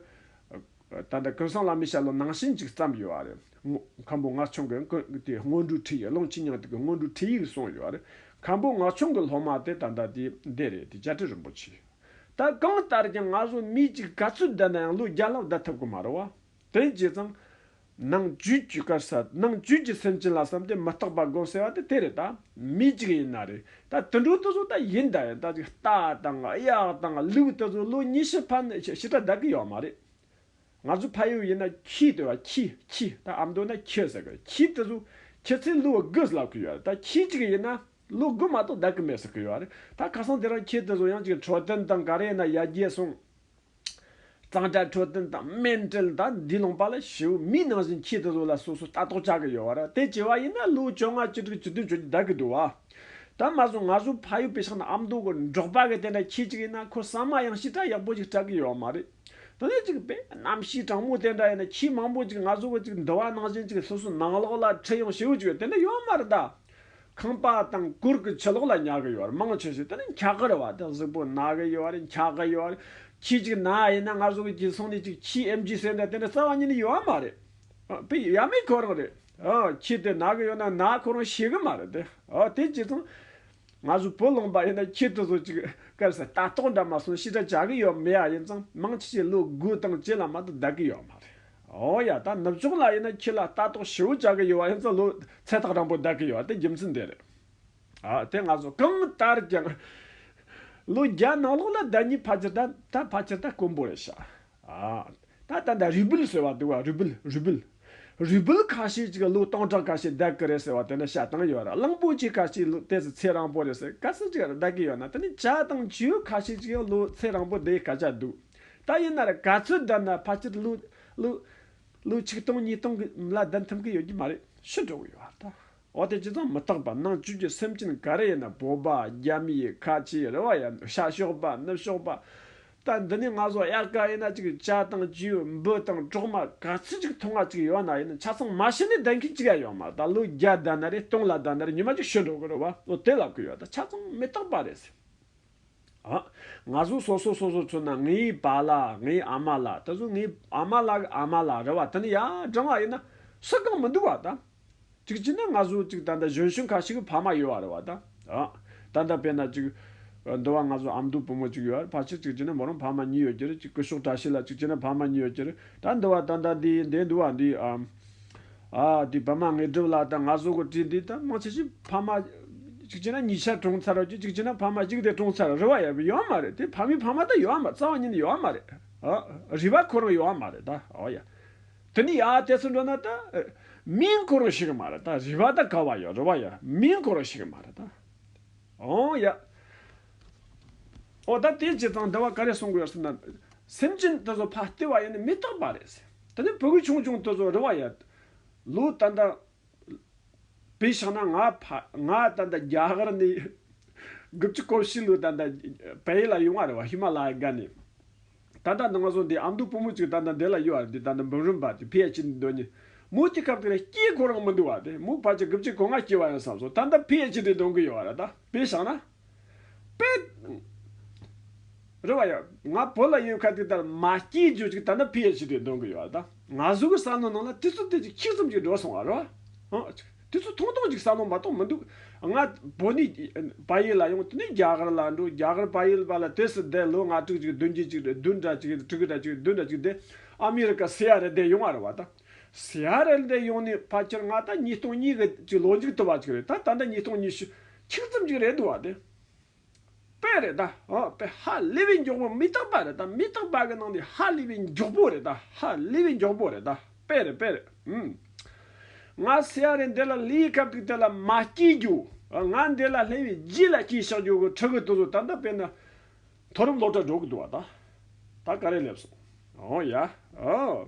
ད་ལྟ་སྐལ་བཟང་བླ་མའི་ཞལ་ལུང་ནང་བཞིན་ཅིག་བརྩམས་ཡོད་པ་རེད། མཁན་པོ་ངག་ཆུང་གིས་ཀུན་དགའི་སྔོན་འགྲོའི་ཁྲིད་ཡིག་ཀློང་ཆེན་སྙིང་ཐིག་གི་སྔོན་འགྲོའི་ཁྲིད་ཡིག་གསུངས་ཡོད་པ་རེད། མཁན་པོ་ངག་ཆུང་གི་སློབ་མ་དེ་ད་ལྟ་དེ་འདི་རེད་དེ་བཅའ་ཁྲི་རིན་པོ་ཆེ། ད་གང་ལྟར་ཀྱང་ང་ཚོ་མིའི་གཅིག་ག་ཚོད་བསྡད་ན་ཡང་ལོ་བརྒྱ་ལྷག་བསྡད་ཐུབ་ཀྱི་མ་རེད་བ། དེ་བྱས་ཙང། ནང་བཅུད་བཅུད་དཀར་ཟ། ནང་བཅུད་ཀྱི་སེམས་ཅན་ལ་བསམས་ཏེ་མི་རྟག་པ་དགོངས་ཟེར་བ་དེ་དེ་རེད་ད། མི་གཅིག་ཡིན་ན་རེད་ད་དུད་འགྲོ་དེ་ཚོ་ད་ཡིན་ད་ཡིན་ད་ཅིག་རྟ་དང་གཡག་དང་ལུག་དེ་ཚོ་ལོ་ཉི་ཤུ་ཕ་ནས་ཕྱི་ཕྱི་དགྲ་བདག་གི་ཡོད་མ་རེད་ང་ཚོ་ཕ་ཡུལ་ཡིན་ན་ཁྱི་དེ་བ་ཁྱི་ཁྱི་ད་ཨ་མདོ་ན་ཁྱི་ཟེར་གི་ཁྱི་དེ་ཚོ་ཁྱི་ཚེ་ལོ་དགུ་ཟླ་གི་ཡོད་རེད་ད་ཁྱི་གཅིག་ཡིན་ན་ལོ་དགུ་མ་གཏོགས་བདག་གི་མེད་ཟེར་གི་ཡོད་རེད་ད་ཁ་སང་དེ་རང་ཁྱི་དེ་ཚོ་ཡང་ཅིག་འཕྲོ་བསྟེན་དང་ག་རེ་ཡིན་ན་ཡར་རྒྱས་སོང། གཙང་སྦྲ་འཕྲོད་བསྟེན་དང་སྨན་སྤྲེལ་དང་དེའི་ལུང་པ་ལ་ཞེའུ་མིག་ནང་བཞིན་འཁྱིལ་དུ་འདུག་ལ་སོ་སོས་ལྟ་རྟོག་བྱ་གི་ཡོད་བ་རེད་དེ་བྱས་བ་ཡིན་ན་ལོའུ་བཅོ་ལྔ་བཅུ་དྲུག་བཅུ་བདུན་བཅུ་བརྒྱད་འདའ་གི་འདུག་བ། དེ་མ་ཟོས་ང་ཟོས་ཕ་ཡུལ་པེ་ཤང་དང་ཨ་མདོ་གི་འབྲོག་པ་གི་དེ་འདྲ་ཁྱི་གཅིག་ཡིན་ན་ཁོ་ཟ་མ་ཡང་ཞི་དྲག་ཡག་པོ་ཅིག་སྐྲག་གི་ཡོད་བ་མ་རེད། དེ་ལས་ཅིག་པེ་གནམ་གཤིས་གྲང་མོ་དེ་འདྲ་ཡིན་ན་ཁྱི་མང་པོ་ཅིག་ང་ཟོས་བ་ཅིག་འདི་བ་ནང་བཞིན་ཅིག་སོ་སོའི་ནང་ལོགས་ལ་ཁྲིད་ཡོང་ཞེའུ་ཅིག་ཡོད་དེ་འདྲ་ཡོད་བ་མ་རེད་ད། ཁང་པ་དང་སྐོར་གྱི་ཕྱི་ལོགས་ལ་ཉལ་གི་ཡོད་རེད་མང་ཆེ་ཤོས་དེ་ནི་འཁྱག་གི་རེད་བ་དེ་གཟུགས་པོ་ན་གི་ཡོད་རེད་འཁྱག་གི་ཡོད་རེད་ཁྱི་གཅིག་ན་ཡིན་ན་ང་གཟུགས་གཅིག་སོང་ནས་གཅིག་ཁྱིའི་ཨེམ་ཇི་ཟེར་འདྲ་དེ་འདྲ་རྩ་བ་ཉིད་ནས་ཡོད་མ་རེད་དེ་ཡ་མེད་ཁོ་རང་རེད་ཁྱི་དེ་ན་གི་ཡོད་ན་ན་ཁོ་རང་ཤེས་གི་མ་རེད་དེ་དེ་གཅིག་སོང་ང་གཟུགས་པོ་ལོང་པ་ཡིན་ན་ཁྱི་དེ་གཟུགས་གཅིག་སྐད་ཟེར་ལྟ་རྟོག་འདྲ་མ་སོང་ཤི་དྲ་བྱ་གི་ཡོད་མེད་ཡ་ཡིན་ཙང་མང་ཆེ་ཤོས་ལོ་དགུ་དང་བཅས་ལ་མ་དང་བསྡད་གི་ཡོད་མ་རེད། ཨོ་ཡ་ད་ནུབ་ཕྱོགས་ལ་ཡིན་ན་ཁྱེད་ལ་ལྟ་རྟོག་ཞེ་བོ་བྱ་གི་ཡོད་བ་ཡིན་ཙང་ལོས་ཚད་ཐག་རིང་པོ་བསྡད་གི་ཡོད་དེ་རྒྱུ་མཚན་དེ་རེད། ཨ་དེ་ང་ཚོ་གང་ལྟར་ཀྱང་ལོ་བརྒྱ་ནང་ལོགས་ལ་བདག་ཉིད་ཕ་ཁྱི་ད་ད་ཕ་ཁྱི་ད་དཀོན་པོ་རེད་ཤག་ཨ་ད་ད་ད་རུས་སྦལ་ཟེར་བ་འདུག་བ་རུས་སྦལ་རུས་སྦལ། རུས་སྦལ་ཁ་ཤས་ཅིག་ལོ་སྟོང་ཕྲག་ཁ་ཤས་བསྡད་གི་རེད་ཟེར་བ་དེ་ནི་བཤད་སྟངས་ཡོད་ར་གླང་པོ་ཆེ་ཁ་ཤས་ལོ་དེ་ཚོ་ཚད་རང་པོ་རེད་ཟེར་ག་ཚོད་ཅིག་བསྡད་གི་ཡོད་ན་དེ་ནི་བྱ་དང་བྱིའུ་ཁ་ཤས་ཅིག་ཡང་ལོ་ཚད་རང་པོ་བསྡད་ག་ཅག་འདུག། ད་ཡིན་ན་རེད་ག་ཚོད་བསྡད་ན་ཕལ་ཆེར་ལོ་ལོ་ཆིག་སྟོང་གཉིས་སྟོང་གི་ལ་བསྡད་ཐུབ་གི་ཡོད་ཀྱི་མ་རེད་ཤི་འགྲོ་གི་ཡོད་ད། འོ་དེ་ཅི་ཙང་མི་རྟག་པ་ནང་བཅུད་ཀྱི་སེམས་ཅན་ག་རེ་ཡིན་ན་བོད་པ་རྒྱ་མིའི་ཁ་ཆེ་རེ་བ་ཡིན་ཤ་ཞོག་པ་ནུབ་ཞོག་པ། ད་འདི་ནས་ང་ཚོ་དབྱར་ཁ་ཡིན་ན་ཅིག་བྱ་དང་བྱིའུ་འབུ་དང་གྲོག་མ་ག་ཚོད་ཅིག་ཐོག་མ་ཅིག་ཡོད་ན་ཡིན་ཆ་ཚང་མ་ཤི་ནས་བསྡད་མཁན་ཅིག་ཡ་ཡོད་མ་རེད་ད་ལོ་བརྒྱ་བསྡད་ན་རེད་སྟོང་ལ་བསྡད་ན་རེད་ཉི་མ་ཅིག་ཤི་འགྲོ་གི་རེད་བ་ལོ་དེ་ལབ་གི་ཡོད་ད་ཆ་ཚང་མི་རྟག་པ་རེད། ང་གཟུགས་སོ་སོ་སོ་སོར་མཚོན་ན་ངའི་བ་ལ་ངའི་ཨ་མ་ལ་ད་གཟུགས་ངའི་ཨ་མ་ལ་གི་ཨ་མ་ལ་རེད་བ་དེ་ནི་ཡ་བགྲང་བ་ཡིན་ན་སུ་གང་མི་འདུག་བ་དང་གཅིག་བྱས་ན་ང་གཟུགས་གཅིག་ད་ལྟ་གཞོན་ཤུན་ཁ་ཞིག་གི་ཕ་མ་ཡོད་བ་རེད་བ་དང་ད་ལྟ་དཔེར་ན་གཅིག་འདུག་བ་ང་གཟུགས་ཨ་མདོའི་བུ་མོ་གཅིག་ཡོད་བ་ཕ་ཕྱིར་གཅིག་བྱས་ན་མོ་རང་ཕ་མ་གཉིས་ཡོད་རྒྱུ་རེད་གཅིག་སྐུ་ཞོག་གྲྭ་ཤིག་ལ་གཅིག་བྱས་ན་ཕ་མ་གཉིས་ཡོད་རྒྱུ་རེད་ད་འདུག་བ་ད་ལྟ་འདི་འདས་འདུག་བ་འདི་དེ་ཕ་མ་ངེས་སྒྲུབ་ལགས་དང་ང་བཟོ་གོ་བྲིས་འདི་དང་མང་ཆེ་ཤོས་ཕ་མ་གཅིག་བྱས་ན་གཉིས་ཆ་གྲོངས་ཚར་རོ་ཀྱི་གཅིག་བྱས་ན་ཕ་མ་གཅིག་དེ་གྲོངས་ཚར་རི་བ་ཡབ་ཡོད་མ་རེད་དེ་ཕ་མའི་ཕ་མ་དང་ཡོད་མ་རྩ་བ་ཉིད་ནས་ཡོད་མ་རེད་ཨ་རི་བ་ཁོ་རང་ཡོད་མ་རེད་ད་ཨོ་ཡ། དེ་ནི་ཡ་དེ་ཚོ་འགྲོ་ན་ད་མིན་ཁོ་རང་ཞིག་མ་རེད་ད་རི་བ་ད་ག་བ་ཡོད་རི་བ་ཡ་མིན་ཁོ་རང་ཞིག་མ་རེད་ད་ཨོ་ཡ། འོ་ད་དེའི་རྗེས་དང་འབྲེལ་བ་ག་རེ་གསུང་དགོས་ཡོད་སེམས་ན། སེམས་ཅན་དེ་ཚོ་ཕ་ལྟེ་བ་ཡེ་ནས་མི་རྟག་པ་རེད། དེ་ནས་བུ་གུ་ཆུང་ཆུང་དེ་ཚོ་རེ་བ་ཡོད། ལུས་ད་ལྟ་བི་ཤང་ན་ང་ཕ་ང་ད་ལྟ་རྒྱ་གར་ནས་གུ་བཅུ་གོ་བཞི་ལོའི་ད་ལྟ་བལ་ཡུལ་ལ་ཡོང་བ་རེད་བ་ཧི་མ་ལ་ཡའི་སྒར་ནས། ད་ལྟ་ང་ཚོ་འདི་ཨ་མདོའི་བུ་མོ་ཅིག་ད་ལྟ་འདི་ལ་ཡོད་བ་རེད་དེ་ད་ལྟ་འབུམ་རམས་པ་དེ་བྷི་ཡ་ཅི་འདི་འདོན་ཉིན་མོ་དེ་སྐབས་དེ་རེ་སྐྱེས་ཁོ་རང་མི་འདུག་བ་དེ་མོའི་ཕ་ཆ་གུ་བཅུ་གོ་ལྔ་སྐྱེས་བ་ཡིན་བསམ་སོང་ད་ལྟ་བྷི་ཡ་ཅི་འདི་འདོན་གི་ཡོད་བ་རེད་ད་བི་ཤང་ན། པེད། རེད་བ་ཡ། ང་བོད་ལ་ཡོད་ཁར་དེ་ལྟར་མ་སྐྱེས་རྗོད་ཅིག་ད་ནི་ཕི་ཨེར་ཆི་དེ་འདོན་གི་ཡོད་ད། ང་གཟུགས་ཀྱི་བསམ་བློ་ནང་ལ་དེ་ཚོ་དེ་ཅིག་ཁྱི་ཙམ་ཅིག་འགྲོ་སོང་བ་རེད་བ། དེ་ཚོ་ཐུང་ཐུང་ཅིག་བསམ་བློ་མ་གཏོང་མི་འདུག་ང། བོད་ནས་བ་ཡེལ་ལ་ཡོང་དེ་ནས་རྒྱ་གར་ལ་འགྲོ་རྒྱ་གར་བ་ཡེལ་བ་ལ་དེ་སྲིད་དེ་ལོ་ལྔ་དྲུག་ཅིག་བདུན་བརྒྱད་ཅིག་བདུན་གྲ་ཅིག་དྲུག་གྲ་ཅིག་བདུན་གྲ་ཅིག་དེ་ཨ་མི་རི་ཀ་སི་ཡ་རེ་དེ་ཡོང་བ་རེད་བ་ད། སི་ཡ་རེ་དེ་ཡོང་ནས་བ་ཁྱེར་ང་ད་ཉིས་སྟོང་གཉིས་གི་ཅིག་ལོ་མཇུག་དུ་བ་ཅིག་རེད་ད་ད་ལྟ་ཉིས་སྟོང་ཉི་ཤུ་ཆིག་རྩུབ་ཅིག་རེད་འདུག་བ་དེ་དཔེ་རེད་ད་ཧ་དཔེ་ཧ་ལས་པའི་མགྱོགས་པོ་མི་རྟག་པ་རེད་ད་མི་རྟག་པ་གི་ནང་དེ་ཧ་ལས་པའི་མགྱོགས་པོ་རེད་ད་ཧ་ལས་པའི་མགྱོགས་པོ་རེད་ད་དཔེ་རེད་དཔེ་རེད་ཧུམ། ང་ཟེར་ཡ་རེད་འདི་ལ་ལས་སྐབས་དེ་དེ་ལ་མ་སྐྱིད་རྒྱུ་ང་འདི་ལ་སླེབས་པའི་རྗེས་ལ་སྐྱིད་ཤག་རྒྱུ་གི་ཁྲི་གི་དུ་བཟོ་ད་ལྟ་དཔེ་ན་མཐོ་རིམ་སློབ་གྲྭ་འགྲོ་གི་འདུག་བ་ད་ད་ག་རེ་སླེབས་སོང་ཨོ་ཡ་ཨོ།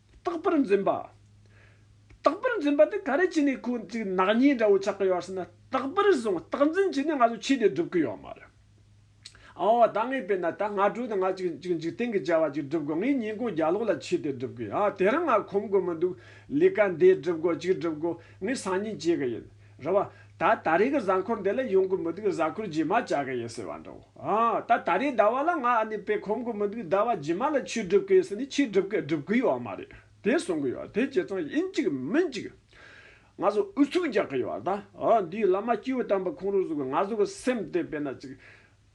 རྟག་པར་འཛིན་པ། རྟག་པར་འཛིན་པ་དེ་ག་རེ་བྱས་ནས་ཁོ་གཅིག་ནག་ཉེས་འདྲ་བོ་ཆགས་ཀྱི་ཡོད་ཟེར་ན་རྟག་པར་བཟུང་རྟག་འཛིན་བྱས་ནས་ང་ཚོ་ཆོས་དེ་སྒྲུབ་ཀྱི་ཡོད་མ་རེད། འོ་ད་ངས་བལྟས་ན་ད་སྔ་དྲོ་དང་ང་གཅིག་གཅིག་འཇིག་རྟེན་གྱི་བྱ་བ་གཅིག་སྒྲུབ་དགོས་ངས་ཉིན་གུང་རྒྱ་ལོག་ལ་ཆོས་དེ་སྒྲུབ་ཀྱི་ཡོད་དེ་རིང་ང་ཁོམ་དགོས་མི་འདུག་ལས་ཀ་འདི་སྒྲུབ་དགོས་གཅིག་སྒྲུབ་དགོས་ངས་སང་ཉིན་བྱེད་ཀྱི་ཡིན། རེད་བ། ད་ད་རེས་ཀྱི་གཟའ་འཁོར་འདི་ལ་ཡོང་གི་མི་འདུག་གཟའ་འཁོར་རྗེས་མ་བྱ་གི་ཡིན་ཟེར་བ་འདྲ་བོ། ད་ད་རེས་ཟླ་བ་ལ་ང་ཨ་ནེ་པས་ཁོམ་གི་མི་འདུག་ཟླ་བ་རྗེས་མ་ལ་ཆོས་སྒྲུབ་གི་ཡིན་ཟེར་ནས་ཆོས་སྒྲུབ་གི་སྒྲུབ་གི་ཡོད་མ་རེད། དེ་གསུང་གི་ཡོད་དེ་ཁྱེད་ཚང་ཡིན་གཅིག་མིན་གཅིག། ང་ཚོ་ཨུ་ཚུགས་རྒྱག་གི་ཡོད་ད། འདིའི་བླ་མ་སྐྱེས་བུ་དམ་པ་ཁོང་རུ་གཟུགས་ང་ཚོ་གི་སེམས་དེ་དཔེ་ན་གཅིག།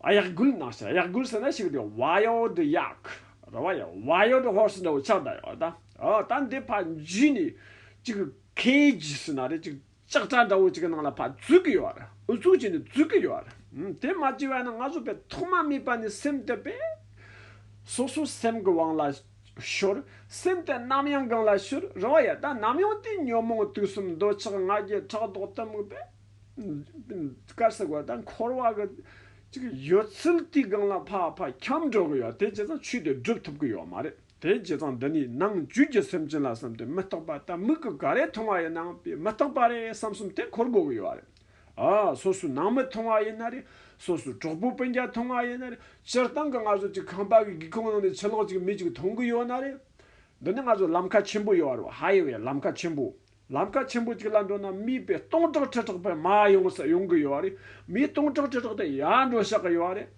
གཡག་རྒུད་ནང་བཤད་གཡག་རྒུད་ཟེར་ན་ཞིག་དེ wild ཡག་རེད་བ་ཡིན wild horse འདྲ་བོ་ཆགས་གདའ་ཡོད་ད་ད་འདི་ཕ་འཇུས་ནས་ཅིག cage ཟེར་ན་རེད་ཅིག་ལྕགས་དྲ་འདྲ་བོ་ཅིག་ནང་ལ་ཕ་འཛུལ་གི་ཡོད་རེད་ཨུ་ཚུགས་བྱས་ནས་འཛུལ་གི་ཡོད་རེད་དེ་མ་བྱས་བས་ན་ང་ཚོ་པས་ཐོག་མ་སྨྲས་པ་ནས་སེམས་གཏད་པས་སོ་སོ་སེམས་གི་དབང་ལ་ཤོར་སེམས་དེ་ནམ་ཡང་གང་ལ་ཤོར་རེད་བ་ཡིན་ད་ནམ་ཡང་དེ་ཉོན་མོངས་དུག་གསུམ་འདོད་ཆགས་ང་རྒྱལ་ཕྲག་དོག་གཏི་མུག་པས། དཀར་སེར་བ་དང་འཁོར་བ་གི། ཡོད་ཚུལ་དེའི་སྒང་ལ་ཕ་ཕ་འཁྱམས་འགྲོ་གི་ཡོད་དེ་བྱས་ཙང་ཆོས་དེ་སྒྲུབ་ཐུབ་གི་ཡོད་མ་རེད་དེ་བྱས་ཙང་འདི་ནས་ནང་བཅུད་ཀྱི་སེམས་ཅན་ལ་བསམ་སྟེ་མི་རྟོག་པ་ལྟ་མིག་གི་ག་རེ་མཐོང་བ་ཡིན་ནའང་དེ་མི་རྟོག་པ་རེད་བསམ་གསུམ་དེ་འཁོར་དགོས་གི་ཡོད་རེད་ཨ། སོ་སོའི་ནང་མི་མཐོང་བ་ཡིན་ན་རེད་སོ་སོའི་གྲོགས་པོ་སྤུན་རྒྱ་མཐོང་བ་ཡིན་ན་རེད་སྤྱིར་བཏང་གི་ང་ཚོ་ཅིག་ཁང་པ་གི་སྒེའུ་ཁུང་ནང་ནས་ཕྱི་ལོགས་ཅིག་མི་ཅིག་མཐོང་གི་ཡོད་ན་རེད། འདི་ནི་ང་ཚོ་ལམ་ཁ་ཆེན་པོ་ཡོད་རེད་ཧ་ཡེ་བའི་ལམ་ཁ་ཆེན་པོ་ལམ་ཁ་ཆེན་པོ་གཅིག་ལ་འགྲོ་ན་མིའི་པའི་སྟོང་ཕྲག་ཁྲི་ཕྲག་པད་མ་ཡོང་ས་ཡོང་གི་ཡོད་བ་རེད། མིའི་སྟོང་ཕྲག་ཁྲི་ཕྲག་དེ་ཡར་འགྲོ་ཤག་གི་ཡོད་བ་རེད།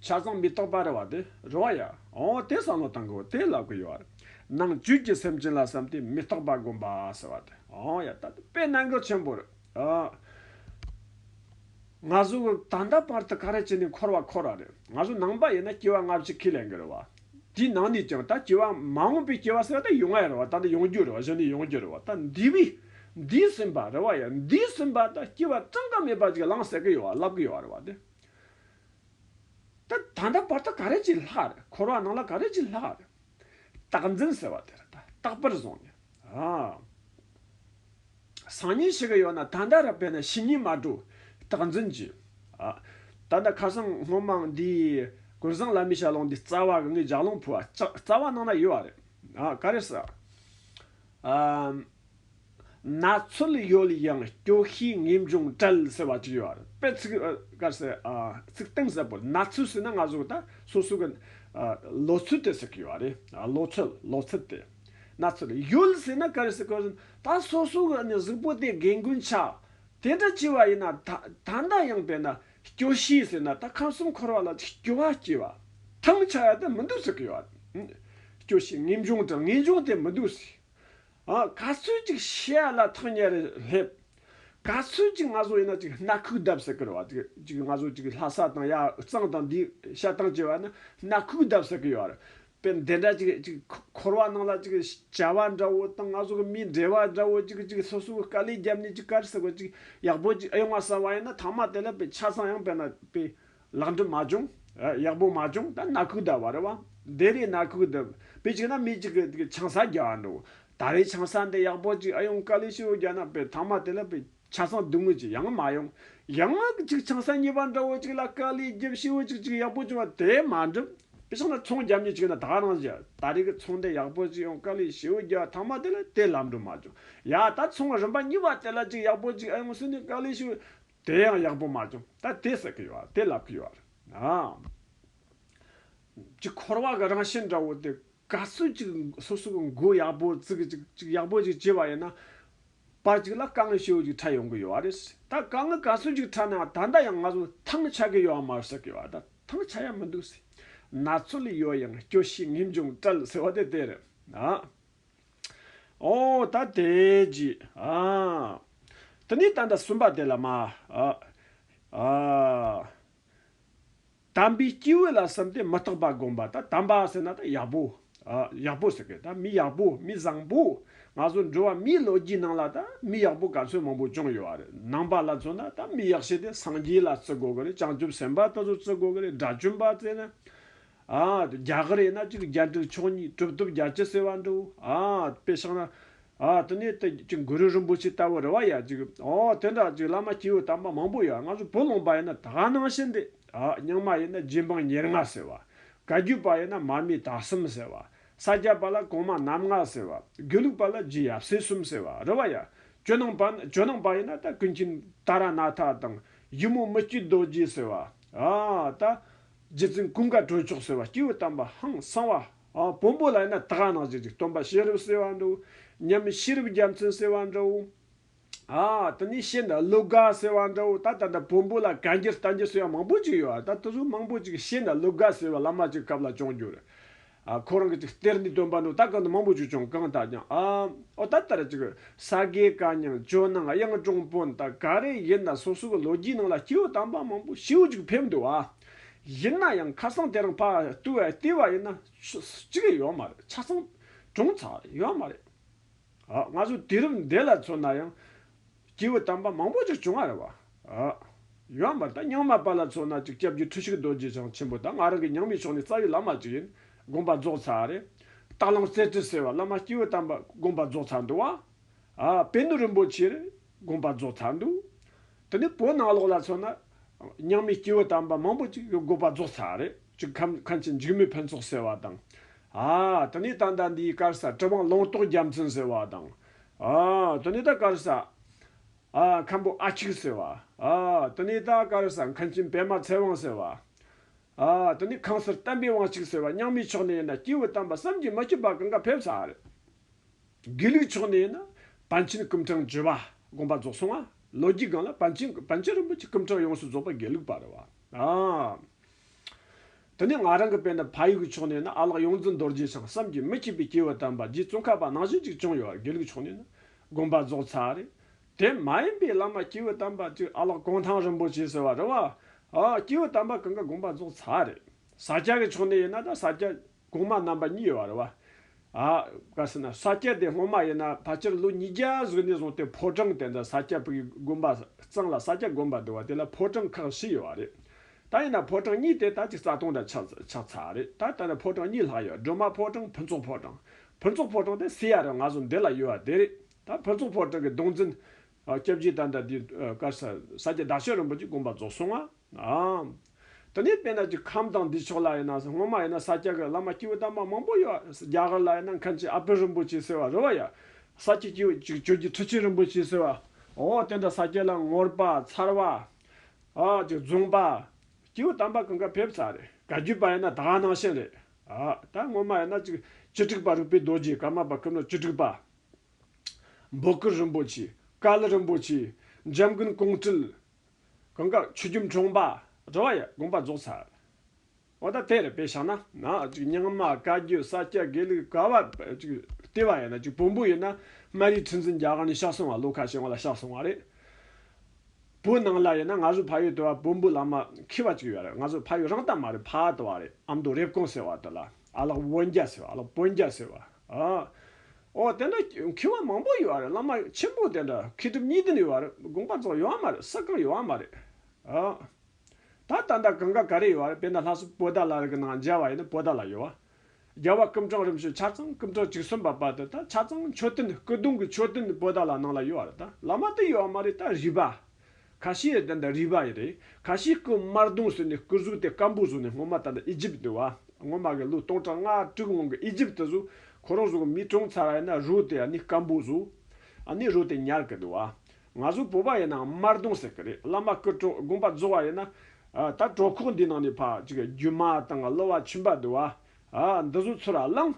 ཆ་ཚང་མི་རྟོག་པ་རེད་བ་དེ་རོགས་ཡ། ཨོ་དེ་བསམ་བློ་བཏང་གི་འོ་དེ་ལབ་གི་ཡོད་བ་རེད། ནང་བཅུད་ཀྱི་སེམས་ཅན་ལ་བསམ་དེ་མི་རྟོག་པ་སྒོམ་པ་ཟེར་བ་དེ་ཨོ་ཡ་ད་དེ་དཔེ་གནང་གི་ཆེན་པོ་རེད། ང་ཚོ་ད་ལྟ་བར་དུ་ཀ་ར་ཅི་ནས་འཁོར་བ་འཁོར་ར་རེད། ང་ཚོ་ནང་པ་ཡིན་ན་སྐྱེ་བ་སྔ་ཕྱི་ཁས་ལེན་གི་རེད་བ། དེའི་ནང་ནས་ཀྱང་ད་སྐྱེ་བ་མ་འོངས་པའི་སྐྱེ་བ་ཟེར་བ་ད་ཡོང་ང་ཡི་རེད་བ་ད་འདི་ཡོང་རྒྱུ་རེད་བ་གཞི་འདི་ཡོང་རྒྱུ་རེད་བ་ད་འདི་བས་འདིས་ཟིན་པ་རེད་བ་ཡ་འདིས་ཟིན་པ་ད་སྐྱེ་བ་ཙང་ཀ་མེད་པ་ཅིག་ལངས་ཟེར་གི་ཡོད་བ་ལབ་གི་ཡོད་རེད་བ་དེ། ད་ད་ལྟ་བར་དུ་ཀ་ར་ཅི་ལྷག་རེད་འཁོར་བ་ནང་ལ་ཀ་ར་ཅི་ལྷག་རེད། རྟག་འཛིན་ཟེར་བ་དེ་རེད་ད་རྟག་པར་བཟུང་ནས། སང་ཉིན་ཞིག་གི་ཡོད་ན་ད་ལྟ་ར་བས་ན་ཕྱི་ཉིན་མ་འགྲོ། རྟག་འཛིན་གྱིས། ཨ། ད་ལྟ་ཁ་སང་སྔོན་མའང་འདིའི། གུར་བཟང་བླ་མའི་ཞལ་ལུང་འདི་རྩ་བ་གི་ངའི་ལྗགས་ལུང་ཕུལ་བ་ལྕགས་རྩ་བ་ནང་ན་ཡོད་བ་རེད། ཨ། ག་རེ་ཟེར། ཨ། ན་ཚོད་ཡོད་ཡང་སྐྱོ་ཤས་ངེས་འབྱུང་བྲལ་ཟེར་བ་ཅིག་ཡོད་རེད་པས་ཚིག། ག་རེ་ཟེར། ཨ། ཚིག་གཏིང་ཟབ་པོ་ན་ཚོད་ཟེར་ན་ང་གཟུགས་ད་སོ་སོ་གི། ཨ། ལོ་ཚོད་དེ་ཟེར་གི་ཡོད་རེད། ཨ། ལོ་ཚོད་ལོ་ཚོད་དེ། ན་ཚོད་ཡོད་ཟེར་ན་གལ་སྲིད་གོ་བཞིན་ད་སོ་སོ་གི་གཟུགས་པོ་དེ་རྒན་རྒོན་ཆ་དེ་འདྲ་སྐྱེས་པ་ཡིན་ན་ད་ད་འདྲ་ཡང་པས་ན་སྐྱོ་ཤས་ཟེར་ན་ད་ཁམས་གསུམ་འཁོར་བ་ལ་སྐྱོ་བ་སྐྱེས་པ་ཐང་ཆ་ཡ་དེ་མི་འདུག་ཟེར་གི་ཡོད་རེད། སྐྱོ་ཤས་ངེས་འབྱུང་དང་ངེས་འབྱུང་དེ་མི་འདུག་ཟེར་ཨ་ག་ཚོད་ཅིག་བཤད་ཡ་ལ་ཐང་ཉེར་སླེབས་ག་ཚོད་ཅིག་ང་ཚོ་ཡིན་ན་ཅིག་སྣ་ཁུག་བརྡབ་ཟེར་གི་རེད་བ་ཅིག་ང་ཚོ་ཅིག་ལྷ་ས་དང་ཡ་གཙང་དང་འདི་བཤད་སྟངས་སྐྱེས་པ་ཡིན་ན་སྣ་ཁུག་བརྡབ་ཟེར་གི་ཡོད་རེད་པའི་འདི་འདྲ་ཅིག་ཅིག་འཁོར་བ་སྣང་ལ་ཅིག་བྱ་བ་འདྲ་བོ་དང་ང་སོགས་ཀྱི་མིའི་འབྲེལ་བ་འདྲ་བོ་ཅིག་ཅིག་སོ་སོའི་དཀའ་ལས་བརྒྱབ་ནས་ཅིག་དཀའ་རེ་ཟེར་བ་ཅིག་ཡག་པོ་ཅིག་ཨེ་ཡོང་བ་བསམ་བ་ཡིན་ན་ཐང་མ་དེ་ལ་པའི་ཆ་ཚང་ཡང་པའི་ན་པའི་ལག་འགྲིམ་མ་བྱུང། ཡག་པོ་མ་བྱུང་ད་ན་ཁུག་ད་བ་རེད་བ། འདི་རེད་ན་ཁུག་འདི། པའི་ཅིག་ན་མི་ཅིག་གི་ཆང་ས་རྒྱག་འགྲོ། ད་རེས་ཆང་ས་འདི་ཡག་པོ་ཅིག་ཨེ་ཡོང་དཀའ་ལས་ཤི་བོ་རྒྱག་ན་པའི་ཐང་མ་དེ་ལ་པའི། ཆ་ཚང་བསྡུ་དངོས་ཅིག་ཡང་མ་ཡོང། ཡང་ང་གི་ཅིག་ཆང་ས་གཉིས་པ་འདྲ་བོ་ཅིག་ལ་དཀའ་ལས་བརྒྱབ་ཤི་བོ་ཅིག་ཅིག་ཡག་པོ་བྱུང་བ་དེ་མ་འགྲུབ། དེ་ཕྱིན་ན་ཚོང་རྒྱབ་ཉེས་ཅིག་ཡོད་ན་དག་རང་བཞིན་ད་རེས་ཀྱི་ཚོང་འདི་ཡག་པོ་ཅིག་ཡོང་དཀའ་ལས་ཤི་བོ་རྒྱབ་ཐང་མ་དེ་ལ་དེ་ལམ་འགྲོ་མ་བྱུང། ཡ་ད་ཚོང་རིམ་པ་གཉིས་པ་དེ་ལ་ཅིག་ཡག་པོ་ཅིག་ཨེ་ཡོང་ཟེར་ནས་དཀའ་ལས་ཤི་བོ། དེ་ཡང་ཡག་པོ་མ་བྱུང་ད་དེ་ཟེར་གི་ཡོད་དེ་ལབ་གི་ཡོད། ཅིག་འཁོར་བ་གི་རང་བཞིན་འདྲ་བོ་དེ་ག་ཚོད་ཅིག་སོ་སོ་གི་མགོ་ཡག་པོ་བཙུགས་ཅིག་ཅིག་ཡག་པོ་ཅིག་བྱས་པ་ཡིན་ན། པར་ཅིག་ལ་དཀའ་ངལ་ཧྲིལ་བོ་ཅིག་འཕྲད་ཡོང་གི་ཡོད་རེད། ད་དཀའ་ངལ་ག་ཚོད་ཅིག་འཕྲད་ན་ད་ལྟ་ཡང་ང་ཚོ་ཐང་ཆགས་ཀྱི་ཡོད་པ་མ་རེད་ཟེར་གི་ཡོད་ད་ཐང་ཆགས་ཡ་མི་འདུག་ཟེར། ན་ཚོད་ལས་ཡོལ་ཡང་སྐྱོ་ཤས་ངེས་འབྱུང་བྲལ་ཟེར་བ་དེ་དེ་རེད། ཨོ། ད་དེ་རྗེས། དེ་ནས་ད་ལྟ་གསུམ་པ་དེ་ལ་མ། དམ་པའི་སྐྱེས་བུ་ལ་བསམ་སྟེ་མི་རྟག་པ་བསྒོམ་པ་དང་དམ་པ་ཟེར་ན་དང་ཡག་པོ། ཡག་པོ་ཟེར་སྐད་མི་ཡག་པོ་མི་བཟང་པོ། ང་ཚོ་འགྲོ་བ་མིའི་ལོ་རྒྱུས་ནང་ལ་དང་མི་ཡག་པོ་ག་ཚོད་མང་པོ་བྱུང་ཡོད་རེད་ནང་པ་ལ་མཚོན་ན་དང་མི་ཡག་བྱས་ཏེ་སངས་རྒྱས་ལ་བརྩི་དགོས་ཀྱི་རེད་བྱང་ཆུབ་སེམས་དཔའ་ལྟ་བུ་བརྩི་དགོས་ཀྱི་རེད་དགྲ་བཅོམ་པ་བརྩི་ན་ཨ། རྒྱ་གར་ཡིན་ན་གཅིག་བརྒྱ་དྲུག་ཕྱོགས་གཉིས་གྲུབ་ཐོབ་བརྒྱ་བཅུ་ཟེར་བ་འདུག་ཨ། དཔེ་ཤང་ན། ཨ། དེ་ནས་དེ་གཅིག་གུ་རུ་རིན་པོ་ཆེ་ལྟ་བུ་རི་བ་ཡ་གཅིག་ཨོ། དེ་འདྲ་གཅིག་བླ་མ་སྐྱེ་བོའི་དམ་པ་མང་པོ་ཡོད་ང་ཚོ་བུ་ལོངས་པ་ཡིན་ན་དག་སྣང་ཤིན་ཏེ་ཨ། རྙིང་མ་ཡིན་ན་རྗེ་འབངས་ཉེར་ལྔ་ཟེར་བ། བཀའ་བརྒྱུད་པ་ཡིན་ན་མར་མེ་དྭགས་གསུམ་ཟེར་བ། ས་སྐྱ་པ་ལ་གོང་མ་རྣམ་ལྔ་ཟེར་བ། དགེ་ལུགས་པ་ལ་རྗེ་ཡབ་སྲས་གསུམ་ཟེར་བ་རི་བ་ཡ། ཇོ་ནང་པ་ནི་ཇོ་ནང་པ་ཡིན་ན་ད་ཀུན་མཁྱེན་ཏཱ་ར་ནཱ་ཐ་དང། གཞི་མོ་མི་བསྐྱོད་རྡོ་རྗེ་ཟེར་བ། ཨ། ད། རྗེ་བཙུན་ཀུན་དགའ་གྲོལ་མཆོག་ཟེར་བ་སྐྱེས་བུ་དམ་པ་ཧང་གསང་བ། བོན་པོ་ལ་ཡིན་ན་དག་སྣང་བྱེད་ཅིག་སྟོན་པ་ཤེས་རབ་ཟེར་བ་འདུག་སྙམ་ཤེས་རབ་རྒྱལ་མཚན་ཟེར་བ་འདྲ་བོ། དེ་ནས་ཤེས་འདྲ་ཀླུ་དགའ་ཟེར་བ་འདྲ་བོ་ད་ལྟ་འདི་བོན་པོ་ལ་གན་རྒྱ་བསྟན་རྒྱུ་ཟེར་བ་མང་པོ་ཅིག་ཡོད་ད་དེ་ཚོ་མང་པོ་ཅིག་ཤེས་འདྲ་ཀླུ་དགའ་ཟེར་བ་བླ་མ་ཅིག་སྐབས་ལ་བྱུང་རྒྱུ་རེད། ཁོ་རང་གིས་ཅིག་གཏེར་འདི་སྟོན་པ་ནོ་ད་གང་དུ་མང་པོ་བྱོས་ཀྱང་གང་དག་ཀྱང་ཨ། ཨོ་ད་ལྟར་ཅིག་ས་དགེ་བཀའ་ཉང་ཇོ་ནང་གཡང་དྲུང་དཔོན་དག་ག་རེ་ཡིན་ད་སོ་སོ་གི་ལོ་རྒྱུས་ནང་ལ་སྐྱེ་བོ་དམ་པ་མང་པོ་ཞེའུ་ཅིག་ཕེབས་འདུག་ཨ། ཡིན་ན་ཡང་ཁ་སང་དེ་རིང་ཕ་བསྟུ་བས་བསྟི་བ་ཡིན་ན་ཅིག་ཡོད་མ་རེད་ཆ་ཚང་གྲོངས་ཚར་ཡོད་མ་རེད་ཨ། ང་ཚོ་དུས་རབས་འདི་ལ་མཚོན་ན་ཡང། སྐྱེས་བུ་དམ་པ་མང་པོ་ཅིག་བྱུང་བར་བ། ཡོན་འབར་དང་རྙིང་མ་པ་ལ་མཚོན་ན་ཅིག་སྐྱབས་རྗེ་ཁྲི་གཤེགས་རྡོ་རྗེ་འཆང་ཆེན་པོ་དང་ང་རང་གི་ཉང་མིའི་ཕྱོགས་ནས་རྩ་བའི་བླ་མ་ཅིག་ཡིན་དགོངས་པ་རྫོགས་ཚར་བ་རེད། སྟག་ལམ་རྩེ་ཁྲི་ཟེར་བ་བླ་མ་སྐྱེས་བུ་དམ་པ་དགོངས་པ་རྫོགས་ཚར་འདུག་བ། དཔལ་ནོར་རིན་པོ་ཆེར་དགོངས་པ་རྫོགས་ཚར་འདུག་དེ་ནས་བོད་ནང་ལོགས་ལ་མཚོན་ན། རྙིང་མའི་སྐྱེས་བུ་དམ་པ་མང་པོ་ཅིག་དགོངས་པ་རྫོགས་ཚར་བ་རེད་ཅིག་ཁམས་ཆེན་འཇིགས་མེད་ཕུན་ཚོགས་ཟེར་བ་དང། དེ་ནས་ད་ལྟ་འདིའི་སྐར་སར་གྲི་དབང་ལུང་རྟོགས་རྒྱ་མཚོན་ཟེར་བ་དང། དོ་ནི་ད་ཀར་ས། མཁན་པོ་ཨ་ཁྱིག་ཟེར་བ། དོ་ནི་ད་ཀར་ས་མཁན་ཆེན་པད་མ་ཚེ་དབང་ཟེར་བ། དོ་ནི་ཁང་སར་བསྟན་པའི་དབང་ཁྱིག་ཟེར་བ་རྙིང་མའི་ཕྱོགས་ནས་ཡིན་ན་སྐྱེས་བུ་དམ་པ་བསམ་གྱིས་མ་ཁྱབ་པ་གང་ག་ཕེབས་ས་རེད། དགེ་ལུགས་ཕྱོགས་ནས་ཡིན་ན་བན་ཆེན་སྐུ་འཕྲེང་བརྗོད་པ་དགོངས་པ་རྫོགས་སོང་ང་ལོ་རྒྱུས་སྒང་ལ་བན་ཆེན་བན་ཆེན་རིན་པོ་ཆེ་སྐུ་འཕྲེང་ཡོངས་སུ་རྫོགས་པ་དགེ་ལུགས་པ་རེད་བ། དེ་ནས་ང་རང་གི་དཔེ་འདི་ཕ་ཡུལ་གྱི་ཕྱོགས་ནས་ནི་ཨ་ལགས་ཡོངས་འཛིན་རྡོ་རྗེ་ཞིང་བསམ་གྱིས་མི་ཁྱབ་པའི་སྐྱེས་བུ་དམ་པ་རྗེ་བཙུན་ཁ་པ་ནང་བཞིན་ཅིག་བྱུང་ཡོད་དགེ་ལུགས་ཕྱོགས་ནས་ནི་དགོན་པ་རྫོགས་ཚར་རེད། དེ་མ་ཡིན་པའི་བླ་མ་སྐྱེས་བུ་དམ་པ་གཅིག་ཨ་ལགས་གུང་ཐང་རིན་པོ་ཆེ་ཟེར་བ་རེད་བ། སྐྱེས་བུ་དམ་པ་གང་ག་དགོན་པ་རྫོགས་ཚར་རེད། ས་སྐྱ་གི་ཕྱོགས་ནས་ཡིན་ན་ད་ས་སྐྱ། གོང་མ་རྣམ་པ་གཉིས་བར་བ། ཨ། བཀའ་ཟེར་ན་ས་སྐྱ་དེ་སྔོན་མ་ཡིན་ན་ཕལ་ཆེར་ལོ་ཉིས་བརྒྱ་གཟུགས་ནས་བཟུང་སྟེ་ཕོ་བྲང་དེ་འདྲ་ས་སྐྱ་བུ་ཡི་དགོན་པ་གཙང་ལ་ས་སྐྱ་དགོན་པ་འདུག་བ་དེ་ལ་ཕོ་བྲང་ཁག་བཞི་ཡོད་བ་རེད། ད་ཡིན་ན་ཕོ་བྲང་གཉིས་དེ་ད་ཅིག་རྩ་སྟོང་འདྲ་ཆགས་ཆགས་ཚར་རེད་ད་ལྟ་ནས་ཕོ་བྲང་གཉིས་ལྷག་ཡོད་སྒྲོལ་མ་ཕོ་བྲང་ཕུན་ཚོགས་ཕོ་བྲང། ཕུན་ཚོགས་ཕོ་བྲང་དེ་སི་ཡ་རུ་ང་ཚོ་འདི་ལ་ཡོད་བ་དེ་རེད་ད་ཕུན་ཚོགས་ཕོ་བྲང་གི་གདོང་འཛིན། སྐྱབས་རྗེ་ད་ལྟ་དེའི་སྐར་ས་སྐྱ་བདག་ཤེལ་རིན་པོ་ཆེ་དགོན་པ་རྫོགས་སོང་ང། དེ་ནས་དཔལ་ནགས་ཀྱི་ཁམས་དང་འདི་ཕྱོགས་ལ་ཡིན་ན་སྔོན་མ་ཡིན་ན་ས་སྐྱ་གི་བླ་མ་སྐྱེས་བུ་དམ་པ་མང་པོ་ཡོད། རྒྱ་གར་ལ་ཡིན་ན་མཁན་ཆེན་ཨ་བྷི་རིན་པོ་ཆེ་ཟེར་བ་རུ་བ་ཡོད། ས་སྐྱའི་སྐྱེས་བུ་གཅིག་ཁྱོད་ཀྱི་ཁྲི་ཆེན་རིན་པོ་ཆེ་ཟེར་བ། འོ་དེ་འདྲ་ས་སྐྱ་ལ་ངོར་པ། མཚར་བ། ཨ། ཀྱི་རྫོང་པ། སྐྱེས་བུ་དམ་པ་གང་ག་ཕེབས་ས་རེད། ག་རྒྱུད་པ་ཡིན་ན་དགའ་སྣང་ཞིང་རེད། ཨ། ད་སྔོན་མ་ཡིན་ན་ཅིག་བཅུ་དྲུག་པ་རིག་པའི་རྡོ་རྗེ་ཀརྨ་པ་ཀུན་ནོ་བཅུ་དྲུག་པ། འབོ་ཀུར་རིན་པོ་ཆེ། ཀཱི་ལི་རིན་པོ་ཆེ། འཇམ་མགོན་ཀོང་སྤྲུལ། གང་དགར་ཆུ་རྒྱུན་འཁྲུངས་པ་འགྲོ་བ་ཡི་དགོངས་པ་རྫོགས་ཚར་བ་དང་དེར་དཔེ་ཞག་ན། རྙིང་མ་བཀའ་བརྒྱུད་ས་སྐྱ་དགེ་ལུགས་ག་བར་བལྟས་པ་ཡིན་ན་བོན་པོ་ཡིན་ན་སྨན་རིའི་ཁྲི་འཛིན་རྒྱ་གར་ནས་ཕྱག་སོང་བ་ལོ་ཁ་ཤས་སྔོན་ལ་ཕྱག་སོང་བ་རེད། བོད་ནང་ལ་ཡིན་ན་ང་ཚོ་ཕ་ཡུལ་དུ་བ་བོན་པོ་བླ་མ་ཁྱི་བ་ཅིག་ཡོད་རེད་ང་ཚོ་ཕ་ཡུལ་རང་ལྟ་མ་རེད་ཕ་དུ་བ་རེད་ཨ་མདོ་རེབ་གོང་ཟེར་བ་དུ་ལ། ཨ་ལགས་དབོན་རྒྱ་ཟེར་བ་ཨ་ལགས་དཔོན་རྒྱ་ཟེར་བ། ཨོ། དེ་འདྲ་ཁྱི་བ་མང་པོ་ཡོད་བ་རེད་བླ་མ་ཆེན་པོ་དེ་འདྲ་ཁྱི་གྲུབ་གཉིས་བདུན་ཡོད་བ་རེད་དགོངས་པ་རྫོགས་ཡོད་བ་མ་རེད་ས་སྐམ་ཡོད་བ་མ་རེད། ད་ད་ལྟ་གང་ག་ག་རེ་ཡོད་བ་རེད་དཔེ་ན་ལྷ་སུ་བོ་ད་ལ་རི་གི་ནང་མཇལ་བ་ཡིན་ན་བོ་ད་ལ་ཡོད་བ། རྒྱལ་བ་ཀུན་གྲངས་རིམ་བྱོན་ཆ་ཚང་ཀུན་གྲངས་གཅིག་གསུམ་པ་བར་དུ་ད་ཆ་ཚང་མཆོད་རྟེན་སྐུ་གདུང་གི་མཆོད་རྟེན་བོ་ད་ལ་ནང་ལ་ཡོད་བ་རེད་ད་བླ་མ་དེ་ཡོད་བ་མ་རེད་ད་རི་བ། ཁ་ཤས་ཡོད་ད་ནི་རིག་པ་ཡི་རེད། ཁ་ཤས་སྐུ་དམར་གདུང་ཟེར་ནས་སྐུ་གཟུགས་དེ་སྐམ་པོ་བཟོ་ནས་སྔོན་མ་ད་ནི་ཨི་ཇིབ་དུ་བ། སྔོན་མ་གི་ལོ་སྟོང་ཕྲག་ལྔ་དྲུག་སྔོན་གི་ཨི་ཇིབ་དུ་བཟོ། ཁོ་རང་བཟོ་གི་མི་གྲོངས་ཚར་བ་ཡིན་ན་རོ་དེ་ཡང་ནི་སྐམ་པོ་བཟོ། ཨ་ནི་རོ་དེ་ཉར་གི་འདུག་བ། ང་ཚོ་བོད་པ་ཡིན་ནའང་དམར་གདུང་ཟེར་གི་རེད་བླ་མ་སྐུ་གྲོགས་དགོན་པ་རྫོགས་བ་ཡིན་ན། ད་གྲོགས་ཁོག་འདི་ནང་ནས་ཕ་གཅིག་རྒྱུ་མ་དང་གླུ་བ་ཆུན་པ་འདུག་བ། ཨ་འདི་བཟོ་ཚུལ་ར་བླང།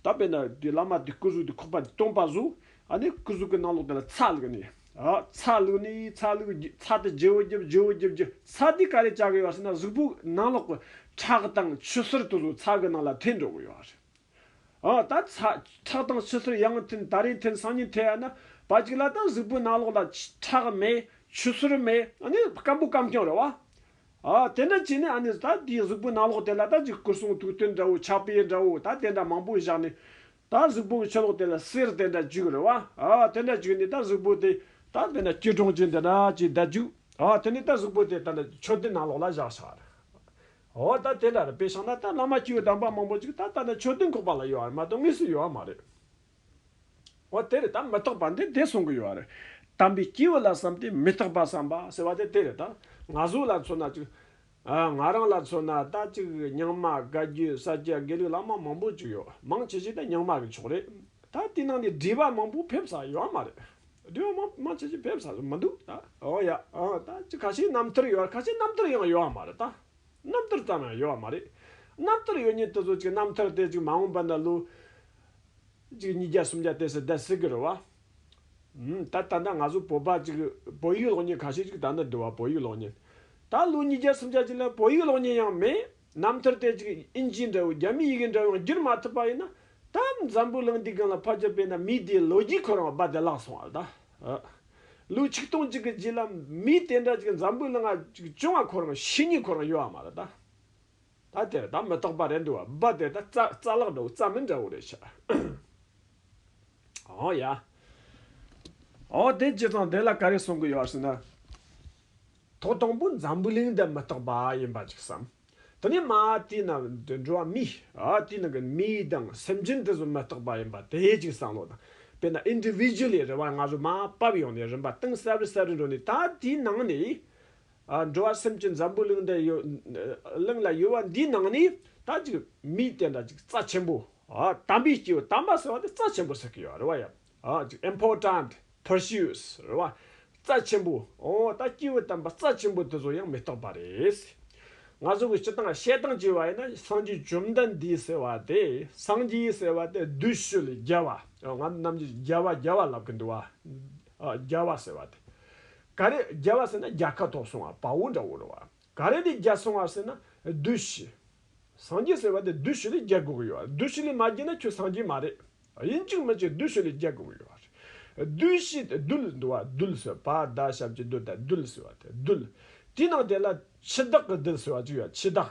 ད་དཔེར་ན་དེ་བླ་མ་དེ་སྐུ་གཟུགས་དེ་ཁོག་པ་དེ་སྟོང་པ་བཟོ། ཨ་ནི་སྐུ་གཟུགས་གི་ནང་ལོགས་དེ་ལ་ཚ་ལགས་ནས། ཚ་ལུག་ནི་ཚ་ལུག་ཚ་དེ་རྗེ་བོ་རྒྱབ་རྗེ་བོ་རྒྱབ་རྒྱུ་ཚ་དེའི་ཀ་རས་བཅག་གི་ཡོད་སྲིད་ན་གཟུགས་པོའི་ནང་ལོགས་པའི་ཁྲག་དང་ཆུ་སེར་དུ་ཚ་གི་ནང་ལ་འཐེན་འགྲོ་གི་ཡོད་རེད། ད་ཁྲག་དང་ཆུ་སེར་ཡང་འཐེན་ད་རིང་འཐེན་སང་ཉིན་འཐེན་ཡ་ན་བ་གཅིག་ལ་ད་གཟུགས་པོའི་ནང་ལོགས་ལ་ཁྲག་མེད་ཆུ་སེར་མེད་ནི་སྐམ་པོ་སྐམ་རྐྱང་རེད་བ། དེ་འདྲ་བྱས་ནས་ད་དེའི་གཟུགས་པོའི་ནང་ལོགས་དེ་ལ་ད་ཅིག་སྐུ་གསུང་ཐུགས་རྟེན་འདྲ་བོ་ཕྱག་དཔེ་འདྲ་བོ་ད་དེ་འདྲ་མང་པོ་བཞག་ནས་ད་གཟུགས་པོ་གི་ཆོས་ལོག་དེ་ལ་སེར་དེ་འདྲ་འཇུག་རེ་བ། ཨ་དེ་འདྲ་འཇུག་ནས་ད་གཟུགས་པོ་དེ་ད་དེ་འདྲ་སྐྱིལ་ཀྲུང་ཅན་དེ་འདྲ་ཅེས་བརྡ་འཇུག་ཨ་དེ་ནས་ད་གཟུགས་པོ་དེ་ད་འདྲ་ཆོས་དེ་ནང་ལོགས་ལ་བཞག་ཤག་རེ་བ། ཨོ་ད་དེ་འདྲ་རེ་བས་ཤག་ན་ད་བླ་མ་སྐྱེ་བོའི་དམ་པ་མང་པོ་ཅིག་ད་ད་འདྲ་ཆོས་དེ་འགོག་པ་ལ་ཡོད་རེ་མ་གཏོགས་དངོས་སུ་ཡོད་བ་མ་རེད། ཨོ་དེ་རེ་ད་མི་རྟག་པ་འདི་དེ་གསུང་གི་ཡོད་རེད། དམ་པའི་སྐྱེས་བུ་ལ་བསམ་སྟེ་མི་རྟག་པ་བསམ་པ་ཟེར་བ་དེ་དེ་རེད་ད་ང་གཟུགས་ལ་མཚོན་ན་ཅིག། ང་རང་ལ་མཚོན་ན་ད་ཅིག་རྙིང་མ་བཀའ་བརྒྱུད་ས་སྐྱ་དགེ་ལུགས་བླ་མ་མང་པོ་བཅུག་ཡོད་མང་ཆེ་ཆེ་ད་རྙིང་མ་གི་ཕྱོགས་རེད་ད་དེ་ནང་ནས་སྒྲིག་པ་མང་པོ་ཕེབས་ས་ཡོད་མ་རེད་སྒྲིག་པ་མང་མང་ཆེ་ཆེ་ཕེབས་ས་མི་འདུག་ད་འོ་ཡ་ད་ཅིག་ཁ་ཤས་རྣམ་ཐར་ཡོད་ཁ་ཤས་རྣམ་ཐར་ཡང་ཡོད་མ་རེད་ད་རྣམ་ཐར་ཙམ་ཡང་ཡོད་མ་རེད་རྣམ་ཐར་ཡོད་ཉིན་དེ་ཚོ་ཅིག་རྣམ་ཐར་དེ་ཅིག་མ་འོངས་པ་ན་ལོ་གཅིག་གཉིས་བརྒྱ་སུམ་བརྒྱ་དེ་སྲིད་ད་སྲིད་གི་རུ་བ་ད་ལྟ་ང་ཚོ་བོད་པ་གཅིག་བོད་ཡིག་གློག་བརྙན་ག་ཤེད་ཅིག་ད་ནི་བསྡུ་བ་བོད་ཡིག་གློག་བརྙན་ད་ལོ་ཉིས་བརྒྱ་སུམ་བརྒྱ་བྱིན་ལ་བོད་ཡིག་གློག་བརྙན་ཡང་མེད་རྣམ་ཐར་དེ་གཅིག་ཨིན་ཇིའི་འདྲ་བོ་རྒྱ་མི་ཡི་གེ་འདྲ་བོ་ཡང་བསྒྱུར་མ་ཐུབ་པ་ཡིན་ན་ད་འཛམ་བུའི་གླིང་འདི་གང་ལ་ཕར་ཆ་སྤེལ་ན་མི་དེའི་ལོ་རྒྱུས་ཁོ་རང་རྦད་དེ་བརླག་སོང་བ་ལྟ་ལོ་ཆིག་སྟོང་གཅིག་གི་རྗེས་ལ་མི་དེ་འདྲ་གཅིག་འཛམ་བུའི་གླིང་ན་གཅིག་བྱུང་བ་ཁོ་རང་ཤི་ཉིན་ཁོ་རང་ཡོད་བ་མ་རེད་ད། ད་དེ་རེད་ད་མི་རྟག་པ་རེད་འདུག་བ་བ་དེ་ད་རྩ་རྩ་ལག་འདྲ་བོ་རྩ་མི་འདྲ་བོ་རེད་ཤག་ཨོ་ཡ། ཨོ་དེ་སྤྱི་ཚང་དེ་ལ་ག་རེ་གསུང་གི་ཡོད་ཟེར་ན། ཐོག་དང་པོ་འཛམ་བུ་གླིང་འདི་མི་རྟག་པ་ཡིན་པ་ཅིག་བསམ། དེ་ནས་མ་དེའི་ནང་དུ་འགྲོ་བ་མི་ཨོ་དེའི་ནང་གི་མི་དང་སེམས་ཅན་དེ་ཚོ་མི་རྟག་པ་ཡིན་པ་དེ་ཅིག་བསམ་བློ་དང་དཔེར་ན individually རེ་བ་ང་ཚོ་མ་བབས་ཡོང་ནས་རིམ་པ་སྟེང་གསར་རི་གསར་རི་འགྲོ་ནས་ད་དེའི་ནང་ནས། འགྲོ་བ་སེམས་ཀྱི་འཛམ་བུའི་གླིང་འདི་གླིང་ལ་ཡོད་པ་འདིའི་ནང་ནས་ད་ཅིག་མིའི་དེ་འདྲ་ཅིག་རྩ་ཆེན་པོ་དམ་པའི་སྐྱེས་བུ་དམ་པ་ཟེར་བ་དེ་རྩ་ཆེན་པོ་ཟེར་གི་ཡོད་རེད་བ་ཡ། Important Pursues རེད་བ། རྩ་ཆེན་པོ་ཨོ་ད་སྐྱེས་བུ་དམ་པ་རྩ་ཆེན་པོ་དེ་ཚོ་ཡང་མི་རྟོགས་པ་རེད། ང་ཚོ་གི་སྤྱི་དང་བཤད་སྟངས་ཀྱི་བ་ཡིན་ན་སངས་རྒྱས་བཅོམ་ལྡན་འདས་ཟེར་བ་དེ་སངས་རྒྱས་ཟེར་བ་དེ་བདུད་བཤོས་ལས་རྒྱལ་བ་ང་ཚོ་རྣམས་ཀྱིས་རྒྱལ་བ་རྒྱལ་བ་ལབ་གི་འདུག་བ་རྒྱལ་བ་ཟེར་བ་དེ་ག་རེ་རྒྱལ་བ་ཟེར་ན་རྒྱལ་ཁ་དོག་སོང་བ་བའོ་འདྲ་བོ་རེད་བ། ག་རེ་ནས་རྒྱལ་སོང་བ་ཟེར་ན་བདུད་བཞི། སངས་རྒྱས་ཟེར་བ་དེ་བདུད་བཞི་ལས་རྒྱལ་དགོས་ཀྱི་ཡོད་བ། བདུད་བཞི་ལས་མ་རྒྱལ་ན་ཁྱོད་སངས་རྒྱས་མ་རེད། དབྱིན་ཇིར་མི་བྱེད་བདུད་བཞི་ལས་རྒྱལ་དགོས་ཀྱི་ཡོད་བ་རེད། བདུད་བཞི་དེ་རྡུལ་འདུ་བ་རྡུལ་ཟེར་བ་ད་ཞབས་ཀྱི་རྡུལ་དང་རྡུལ་ཟེར་བ་དེ་རྡུལ། དེའི་ནང་དེ་ལ་འཆི་བདག་གི་རྡུལ་ཟེར་བ་ཅིག་ཡོད་འཆི་བདག།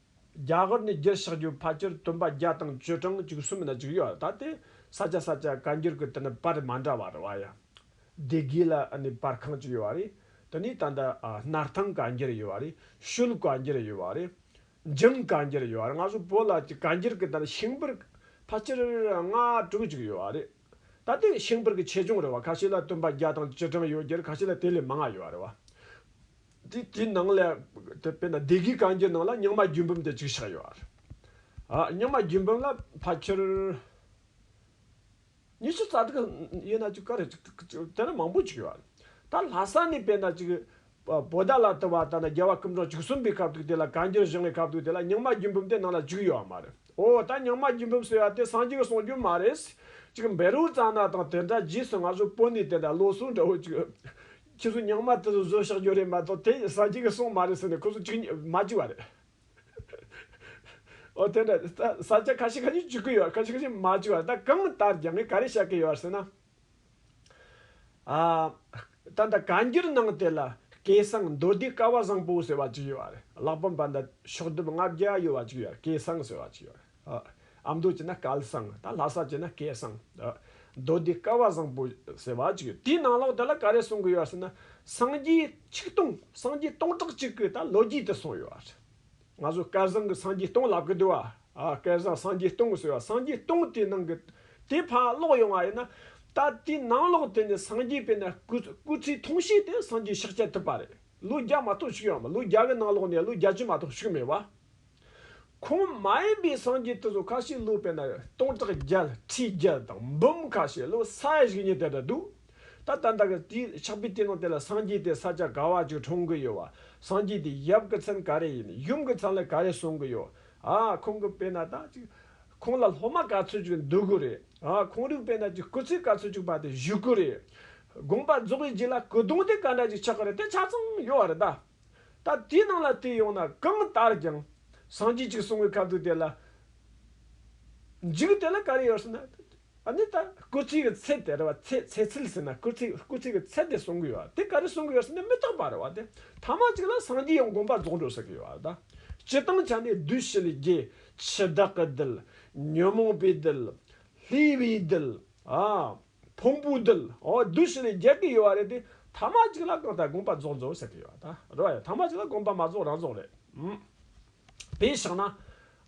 རྒྱ་གར་ནས་རྒྱུར་ཕྱག་རྒྱུ་ཕར་གྱུར་སྟོན་པ་བརྒྱ་དང་བཅུ་གྲངས་བཅུ་གསུམ་ན་བཅུག་ཡོད་ད་དེ་ས་སྐྱ་ས་སྐྱ་བཀའ་འགྱུར་གྱི་དེ་ནི་པར་མ་འདྲ་བ་རེད་བ་ཡ། སྡེ་དགེ་ལ་ནི་པར་ཁང་གཅིག་ཡོད་བ་རེད་དེ་ནི་ད་ལྟ་སྣར་ཐང་བཀའ་འགྱུར་ཡོད་བ་རེད་ཤུལ་བཀའ་འགྱུར་ཡོད་བ་རེད། འཇིམ་བཀའ་འགྱུར་ཡོད་བ་རེད་ང་ཚོ་བོད་ལ་ཀྱི་བཀའ་འགྱུར་གྱི་དེ་ནི་ཤིང་པར་ཕར་གྱུར་ལྔ་དྲུག་བཅུག་ཡོད་བ་རེད་ད་དེ་ཤིང་པར་གྱི་ཆེ་ཆུང་རེད་བ་ཁ་ཤས་ལ་སྟོན་པ་བརྒྱ་དང་བཅུ་གྲངས་ཡོད་རྒྱུར་ཁ་ཤས་ལ་དེ་ལས་མང་ང་ཡོད་བ་རེད་བ། དེ་དེའི་ནང་ལས། དཔེར་ན་སྡེ་དགེའི་གངས་ཀྱི་ནང་ལ་རྙིང་མ་རྒྱུད་འབུམ་དེ་གཅིག་ཆགས་ཡོད། རྙིང་མ་རྒྱུད་འབུམ་ལ་ཕ་ཁྱེར། ཉི་ཤུ་རྩ་དྲུག་ཡོད་ན་ཅིག་ཀ་རེ་ཅིག་དེ་ལ་མང་པོ་ཅིག་ཡོད། ད་ལྷ་ས་ནས་དཔེར་ན་ཅིག། བོ་ད་ལ་དུ་བ་ད་ན་རྒྱལ་བ་སྐུ་འཕྲོག་བཅུ་གསུམ་པའི་སྐབས་དུ་དེ་ལ་གངས་རྒྱུད་བཞེངས་བའི་སྐབས་དུ་དེ་ལ་རྙིང་མ་རྒྱུད་འབུམ་དེ་ནང་ལ་བཅུག་ཡོད་མ་རེད། འོ་ད་རྙིང་མ་རྒྱུད་འབུམ་ཟེར་བ་དེ་སངས་རྒྱས་གསུངས་རྒྱུ་མ་རེད། ཅིག་འབེ་རུ་རྩ་ན་དང་དེ་འདྲ་རྗེས་སུ་ང་ཚོ་པོ་ནས་དེ་འདྲ་བློ་གསུངས་འདྲ་བོ་ཅིག། ཁྱེད་ཚོ་ཉག་མ་དེ་ཚོ་བཟོས་བཞག་རྒྱུ་རེད་མ་གཏོགས་དེ་ཡིན་ས་གཅིག་གི་སོང་མ་རེད་ཟེར་ནས་ཁོ་ཚོ་གཅིག་གཉིས་མ་བྱས་བ་རེད། འོ་དེ་འདྲ་རེད་ད་ས་ཆ་ཁ་ཤས་ཁ་ཤས་བྱེད་ཀྱི་ཡོད་ཁ་ཤས་ཁ་ཤས་མ་བྱས་བ་རེད་ད་གང་ལྟར་རྒྱ་མིས་ག་རེ་བྱ་གི་ཡོད་ཟེར་ན། ད་ལྟ་ག་འགྱུར་གནང་དེ་ལ་སྐད་གསང་མདོ་སྡེ་དཀར་བ་བཟང་པོ་ཟེར་བ་གཅིག་ཡོད་རེད་གླག་པ་འབའ་ཟླ་ཕྱོགས་བསྡོམས་ལྔ་བརྒྱ་ཡོད་བ་གཅིག་ཡོད་རེད་སྐད་གསང་ཟེར་བ་གཅིག་ཡོད་རེད། ཨ་མདོ་བྱས་ན་སྐལ་བཟང། ད་ལྷ་ས་བྱས་ན་སྐལ་བཟང། མདོ་སྡེ་སྐལ་བ་བཟང་པོ་ཟེར་བ་ཅིག་ཡོད། དེའི་ནང་ལོགས་དེ་ལ་ག་རེ་གསུང་གི་ཡོད་ཟེར་ན། སངས་རྒྱས་ཆིག་སྟོང་སངས་རྒྱས་སྟོང་ཕྲག་གཅིག་གི་ད་ལོ་རྒྱུས་དེ་གསུངས་ཡོད་ཟེར། ང་ཚོ་སྐལ་བཟང་གི་སངས་རྒྱས་སྟོང་ལབ་གི་འདུག་བ། སྐལ་བཟང་སངས་རྒྱས་སྟོང་ཟེར་བ་སངས་རྒྱས་སྟོང་དེའི་ནང་གི། དེ་ཕར་ཀློག་ཡོང་བ་ཡིན་ན། ད་དེའི་ནང་ལོགས་དེ་ནས་སངས་རྒྱས་པས་ན་སྐུ་སྐུ་ཚེའི་ཐུང་ཤས་དེ་སངས་རྒྱས་ཕྱག་བྱ་ཐུབ་པ་རེད། ལོ་བརྒྱ་མ་གཏོགས་བཞུགས་ཡོང་མེད་ལོ་བརྒྱ་གི་ནང་ལོགས་ནས་ལོ་བརྒྱ་བཅུ་མ་གཏོགས་བཞུགས་མེད་བ། ཁོང་མ་ཡིན་པའི་སངས་རྒྱས་དེ་ཚོ་ཁ་ཤས་ལུས་པའི་ནང་ཡོད་སྟོང་ཕྲག་བརྒྱད་ཁྲི་བརྒྱད་དང་འབུམ་ཁ་ཤས་ལུས་ས་ཡ་བཞི་གཉིས་དེ་འདྲ་འདུག་ད་ལྟ་འདྲ་གི་དེའི་ཆགས་པའི་སྟེང་ནང་དེ་ལ་སངས་རྒྱས་དེ་ས་ཆ་ག་བ་ཅིག་གྲོངས་གི་ཡོད་བ་སངས་རྒྱས་དེ་ཡབ་གི་མཚན་ག་རེ་ཡིན་ཡུམ་གི་མཚན་ལ་ག་རེ་གསུངས་གི་ཡོད་ཨ་ཁོང་གི་དཔེ་ན་ད་ཅིག་ཁོང་ལ་སློབ་མ་ག་ཚོད་ཅིག་འདུག་གི་རེད་ཨ་ཁོང་རིག་པའི་ན་ཅིག་སྐུ་ཚེ་ག་ཚོད་ཅིག་བར་དེ་བཞུགས་གི་རེད་དགོངས་པ་རྫོགས་པའི་རྗེས་ལ་སྐུ་གདུང་དེ་ག་འདྲ་ཅིག་ཆགས་གི་རེད་དེ་ཆ་ཚང་ཡོད་བ་རེད་ད། ད་དེའི་ནང་ལ་བལྟས་ཡོང་ན་གང་ལྟར་ཀྱང་སངས་རྒྱས་གཅིག་གསུང་བའི་ཁ་བཏུད་དེ་ལ་འཇུག་དེ་ལ་ག་རེ་ཡོད་ཟེར་ན། ཨཱ་ནི་ད་སྐུལ་ཚིག་གི་ཚད་དེ་རེད་བ། ཚད་ཚད་ཚིག་ཟེར་ན་སྐུལ་ཚིག་སྐུལ་ཚིག་གི་ཚད་དེ་གསུང་གི་ཡོད་དེ་ག་རེ་གསུང་གི་ཡོད་ཟེར་ན་མི་རྟག་པ་རེད་བ་དེ་ཐ་མ་གཅིག་ལ་སངས་རྒྱས་ཡང་དགོངས་པ་རྫོགས་འགྲོ་ཟེར་གི་ཡོད་བ་དང། སྤྱི་བཏང་ཆ་ནས་བདུད་བཞི་ལས་རྒྱལ། འཆི་བདག་གི་རྡུལ། ཉོན་མོངས་པའི་རྡུལ། ལྷའི་བུའི་རྡུལ། ཨཱ། བོང་བུ་འདུལ། བདུད་བཞི་ལས་རྒྱལ་དགེ་ཡོད་བ་རེད་དེ། ཐ་མ་གཅིག་ལ་གང་ལྟར་དགོངས་པ་རྫོགས་རྫོགས་ཟེར་གྱི་ཡོད་ད། རེད་བ་ཡ། ཐ་མ་གཅིག་ལ་དགོངས་པ་མ་རྫོགས་རང་རྫོགས་རེད། དེའི་ཕྱག་ན།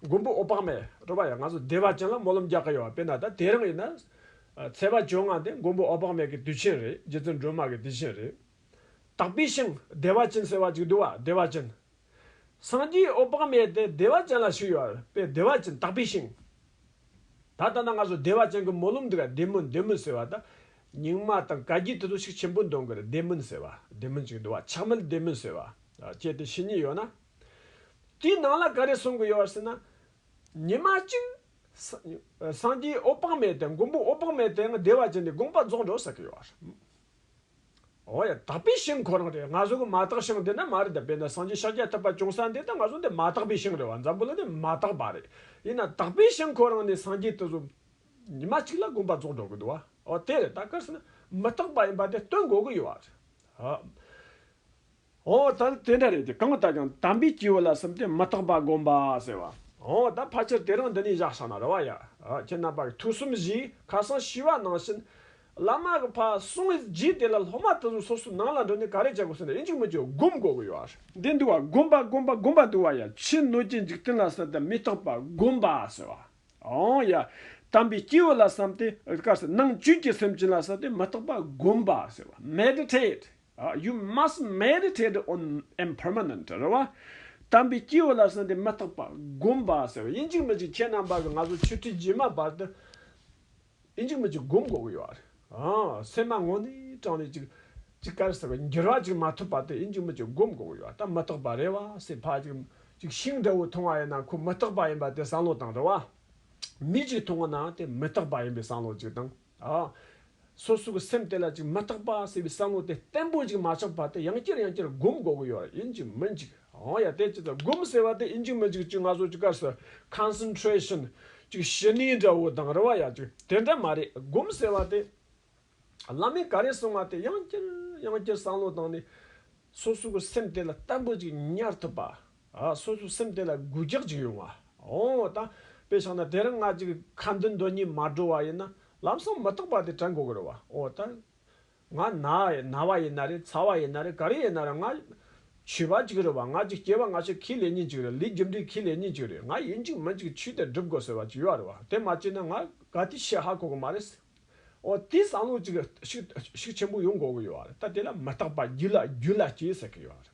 མགོན་པོ་ཨོ་པག་མས། རེད་བ་ཡ་ང་ཚོ་སྡེ་བ་ཅན་ལ་སྨོན་ལམ་རྒྱག་གི་ཡོད་བ་དཔེར་ན་ད་དེ་རང་ཡིན་ན། ཚེས་པ་བཅོ་ལྔ་དེ་མགོན་པོ་ཨོ་པག་མས་ཀྱི་དུས་ཆེན་རེད་རྗེ་བཙུན་སྒྲོལ་མ་ཀྱི་དུས་ཆེན་རེད། དག་པའི་ཤིང་སྡེ་བ་ཅན་ཟེར་བ་ཅིག་འདུག་བ་སྡེ་བ་ཅན། སངས་རྒྱས་ཨོ་དཔག་མེད་དེ་བདེ་བ་ཅན་ལ་ཞུགས་ཡོད་པས་བདེ་བ་ཅན་དག་པའི་ཞིང། ད་ལྟ་ན་ང་ཚོ་བདེ་བ་ཅན་གྱི་སྨོན་ལམ་འདི་ག་བདེ་སྨོན་བདེ་སྨོན་ཟེར་བ་དང། རྙིང་མ་དང་བཀའ་བརྒྱུད་དེ་ཚོ་ཞིག་ཆེན་པོ་འདོན་དགོས་རེད་བདེ་སྨོན་ཟེར་བ་བདེ་སྨོན་ཅིག་འདུག་བ་ཆགས་མེད་བདེ་སྨོན་ཟེར་བ་བཅས་དེ་ཕྱི་གཉིས་ཡོད་ན། དེའི་ནང་ལ་ག་རེ་གསུང་གི་ཡོད་ཟེར་ན། ཉི་མ་གཅིག། སངས་རྒྱས་ཨོ་དཔག་མེད་དེ་མགོན་པོ་ཨོ་དཔག་མེད་དེའང་བདེ་བ་ཅན་དེ་དགོངས་པ་རྫོགས་འགྲོ་ཟེར་གྱི་ཡོད། ཨོ་ཡ། དག་པའི་ཞིང་ཁོ་རང་རེད་ང་བཟོ་གི་མ་དག་ཞིང་འདི་ན་མ་རེད་དཔེར་ན་སངས་རྒྱས་ཤཱཀྱ་ཐུབ་པ་བྱུང་ས་འདི་དང་ང་བཟོ་འདི་མ་དག་པའི་ཞིང་རེད་བ་འཛམ་བུ་ལ་ནི་མ་དག་པ་རེད་ཡིན་ན་དག་པའི་ཞིང་ཁོ་རང་ནི་སངས་རྒྱས་དུ་བཟོ། ཉི་མ་གཅིག་ལ་དགོངས་པ་རྫོགས་འགྲོ་གི་འདུག་བ་ཨོ་དེ་རེད་ད་གལ་སྲིད་ན་མི་དག་པ་ཡིན་པ་དེ་སྟོན་དགོས་གི་ཡོད་བ་རེད། ཧོ། ད་དེ་འདྲ་རེད་དེ་གང་ལྟར་ཀྱང་དམ་པའི་སྐྱེས་བུ་ལ་སིམ་སྟེ་མི་རྟག་པ་བསྒོམ་པ་ཟེར་བ། ཧོ། ད་ཕ་ཁྱེར་དེ་རང་འདི་ནས་བཞག་ཤག་ན་རེ་བ་ཡ། ཁྱེད་རྣམ་པ་གི་ཐུགས་སུམ་བཞིའི་ཁ་སང་ཤི་བ་ནང་བཞིན། བླ་མ་གི་ཕ་སུང་གི་རྗེས་དེ་ལ་སློབ་མ་དེ་ཚོ་སོ་སོའི་ནང་ལ་འགྲོ་ནས་ག་རེ་བྱ་དགོས་ཟེར་ན་ཨེ་འཇུག་མི་འཇུག་སྒོམ་དགོས་ཀྱི་ཡོད། འདི་འདུག་བ་སྒོམ་པ་སྒོམ་པ་སྒོམ་པ་འདུག་བ་ཡ། ཕྱི་སྣོད་ཀྱི་འཇིག་རྟེན་ལ་སིམ་སྟེ་མི་རྟག་པ་བསྒོམ་པ་ཟེར་བ། ཧོ། ཡ། དམ་པའི་སྐྱེས་བུ་ལ་སིམ་སྟེ། ནང་བཅུད་ཀྱི་སེམས་ཅན་ལ་སིམ་སྟེ་མི་རྟག་པ་བསྒོམ་པ་ཟེར་བ། Meditate། You must meditate on impermanent རེད་བ། དམ་པའི་སྐྱེས་བུ་ལ་གསང་སྟེ་མི་རྟག་པ་བསྒོམ་པ་ཟེར་བ་ཡིན་གཅིག་མི་གཅིག་ཁྱེད་རྣམས་པ་ང་ཚོ་ཆོས་ཁྲིད་རྗེས་མ་བར་དུ་ཡིན་གཅིག་མི་གཅིག་བསྒོམ་དགོས་ཀྱི་ཡོད་སེམས་མ་ངོ་ནས་དྲང་ནས་ཅིག་ཅིག་དཀར་ཟེར་བ་འགྱུར་བ་ཅིག་མ་ཐུབ་བར་དུ་ཡིན་གཅིག་མི་གཅིག་བསྒོམ་དགོས་ཀྱི་ཡོད་ད་མི་རྟག་པ་རེད་བ་སྲིད་བག་ཅིག་ཅིག་ཤིང་འདྲ་བོ་མཐོང་བ་ཡིན་ན་ཁོ་མི་རྟག་པ་ཡིན་པ་དེ་བསམ་བློ་བཏང་རེད་བ། མི་གཅིག་མཐོང་བ་ན་དེ་མི་རྟག་པ་ཡིན་པའི་བསམ་བློ་ཅིག་བཏང། སོ་སོ་གི་སེམས་དེ་ལ་ཅིག་མི་རྟག་པ་ཟེར་བའི་བསམ་བློ་དེ་བརྟན་པོ་ཅིག་མ་ཆགས་པར་དེ་ཡང་བསྐྱར་ཡང་བསྐྱར་བསྒོམ་དགོས་ཀྱི་ཡོད་རེད་ཡིན་གཅིག་མིན་གཅིག་ཡང་ཡང་དེ་ཅི་ལྟར་བསྒོམ་ཟེར་བ་དེ་ཡིན་གཅིག་མིན་གཅིག་ཅིག་ང་ཚོ་ཅིག་སྐབས་སུ Concentration ཅིག་ཞི་གནས་འདྲ་བོ་དང་རེ་བ་ཡག་ཅིག་དེ་འདྲ་མ་རེད་བསྒོམ་ཟེར་བ་དེ་བླ་མས་ག་རེ་གསུང་བ་དེ་ཡང་བསྐྱར་ཡང་བསྐྱར་བསམ་བློ་བཏང་ནས་སོ་སོ་གི་སེམས་དེ་ལ་བརྟན་པོ་ཅིག་ཉར་ཐུབ་པ། སོ་སོའི་སེམས་དེ་ལ་གུས་རྒྱག་ཅིག་ཡོང། འོ་ད་དཔེ་ཆགས་ན་དེ་རིང་ང་ཅིག་ཁ་མདུན་དོན་གཉིས་མ་འགྲོ་བ་ཡིན་ན་ལམ་སང་མི་རྟག་པ་དེ་དྲན་དགོས་ཀྱི་རེད་བ། འོ་ད་ང་ན་ན་བ་ཡིན་ན་རེད་ཚ་བ་ཡིན་ན་རེད་ག་རེ་ཡིན་ན་རེད་ང་ཆོས་པ་ཅིག་རེད་བ་ང་ཅིག་སྐྱེ་བ་སྔ་ཕྱི་གྱི་ལས་ཉིན་ཅིག་རེད་ལུས་རྒྱུ་འབྲས་ཀྱི་ལས་ཉིན་ཅིག་རེད་ང་ཡིན་ཅིག་མིན་ཅིག་ཆོས་དེ་སྒྲུབ་དགོས་ཟེར་བ་ཅིག་ཡོད་རེད་བ་དེ་མ་བྱས་ན་ང་དགའ་དུས་ཤི་ཧ་གོ་གི་མ་རེད། འོ་དེའི་བསམ་བློ་ཅིག་ཤུགས་ཆེན་པོ་ཡོང་དགོས་ཀྱི་ཡོད་རེད་ད་དེ་ལ་མི་རྟག་པ་རྒྱུ་ལ་རྒྱུ་ལ་སྐྱེ་ཟེར་གྱི་ཡོད་རེད།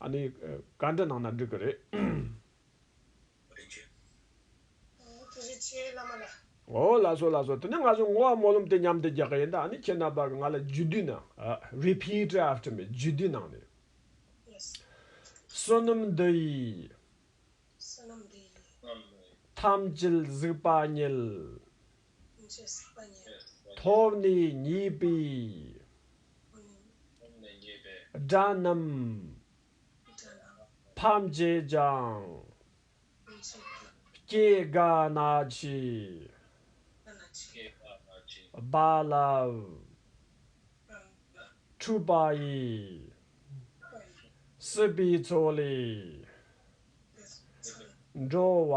ཨ་ནི། བཀའ་འདྲི་གནང་ན་འགྲིག་གི་རེད། རིན་ཆེན། ཨོ། དེ་བཞིན་ཆེའི་བླ་མ་ལ། ཨོ། ལ་སོ་ལ་སོ་དེ་ནས་ང་ཚོ་ངོ་བ་སྨོན་ལམ་དེ་མཉམ་དུ་རྒྱག་གི་ཡིན་ད་ཨ་ནི་ཁྱེད་རྣམ་པ་གི་ང་ལ་རྒྱུད་སྡུད་གནང། Repeat after me རྒྱུད་སྡུད་གནང་ནས། Yes བསོད་ནམས་འདི་ཡིས། བསོད་ནམས་འདི་ཡིས། ཐམས་ཅད་གཟིགས་པ་བརྙེས། ཐོབ་ནས་ཉེས་པའི་དགྲ་རྣམས་ཕམ་བྱེད་ཅིང། སྐྱེ་རྒ་ན་འཆིའི་རྦ་རླབས་འཁྲུགས་པ་ཡི། སྲིད་པའི་མཚོ་ལས་འགྲོ་བ།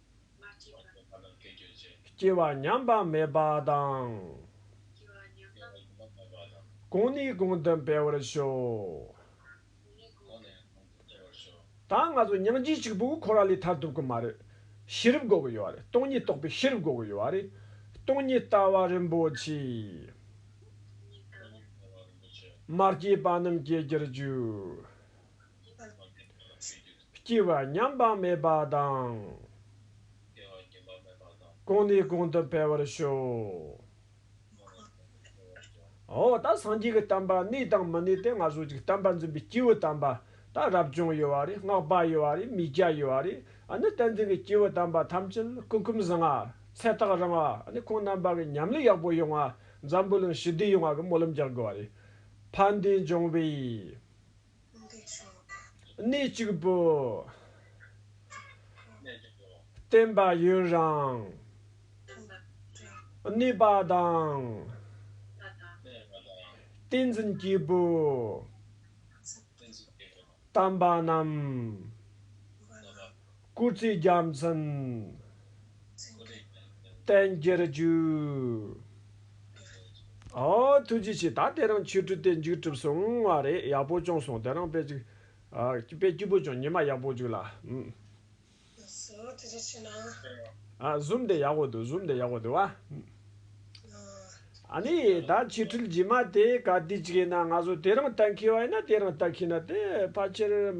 སྐྱེ་བ་མྱང་འབངས་མེད་པ་དང། གང་ནས་གང་དུ་འཕེལ་བར་ཤོག། ད་ང་ཚོ་སྙིང་རྗེ་གཅིག་པུ་ཁོ་རང་ལས་ཐར་ཐུབ་ཀྱི་མ་རེད། ཤེས་རབ་དགོས་ཀྱི་ཡོད་རེད་སྟོང་ཉིད་རྟོགས་པའི་ཤེས་རབ་དགོས་ཀྱི་ཡོད་རེད། སྟོང་ཉིད་ལྟ་བ་རིན་པོ་ཆེ། མ་སྐྱེས་པ་རྣམས་སྐྱེ་གྱུར་ཅིག། སྐྱེ་བ་མྱང་འབངས་མེད་པ་དང། སྐྱེ་བ་སྐྱེ་འབངས་མེད་པ་དང། གང་ནས་གང་དུ་འཕེལ་བར་ཤོག། གང་ནས་གང་དུ་འཕེལ་བར་ཤོག། འོ་ད་སངས་རྒྱས་ཀྱི་གཏམ་པ་གནས་དང་མི་གནས་ཏེ་ང་གཟུགས་ཀྱི་གཏམ་པ་འཛིན་པའི་སྐྱེས་བུ་དམ་པ། ད་རབ་བྱུང་ཡོད་བ་རེད་སྔགས་པ་ཡོད་བ་རེད་མི་སྐྱ་ཡོད་བ་རེད་ཨ་ནི་བསྟན་འཛིན་གྱི་སྐྱེས་བུ་དམ་པ་ཐམས་ཅད་ལ་ཀུ་ཀུམ་བཟང་ང། ཚེ་རྟགས་རིང་བ་ཨ་ནི་ཁོང་རྣམ་པ་གི་ཉམས་ལེན་ཡག་པོ་ཡོང་བ་འཛམ་བུ་གླིང་ཞི་བདེ་ཡོང་བ་གི་སྨོན་ལམ་རྒྱག་དགོས་བ་རེད། ཕ་འདི་འབྱུང་བའི། གནས་གཅིག་པུ། བརྟན་པ་ཡུན་རིང། གནས་པ་དང། བསྟན་འཛིན་སྐྱེས་བུ། དམ་པ་རྣམས། སྐུ་ཚེ་རྒྱ་མཚན། བསྟན་རྒྱས་བཅུད། ཨ། ཐུགས་རྗེ་ཆེ་ད་དེ་རིང་ཆོས་དྲུག་སྟེ་མཇུག་གྲུབ་སོང་བ་རེད་ཡག་པོ་བྱུང་སོང་དེ་རིང་དཔེ་གཅིག་དཔེ་སྐྱིད་པོ་བྱུང་ཉི་མ་ཡག་པོ་བྱུང་ལ་ཨུ། བཟོ་ཐུགས་རྗེ་ཆེ་ན། Zoom དེ་ཡག་པོ་འདུག Zoom དེ་ཡག་པོ་འདུག་ཨ། ནི་ད་ཆོས་དྲུག་རྗེས་མ་དེ་ག་དུས་ཅིག་ཡིན་ན་ང་ཚོ་དེ་རིང་ལྟ་མཁས་བ་ཡིན་ན་དེ་རིང་ལྟ་མཁས་ན་དེ་ཕ་ཆེར།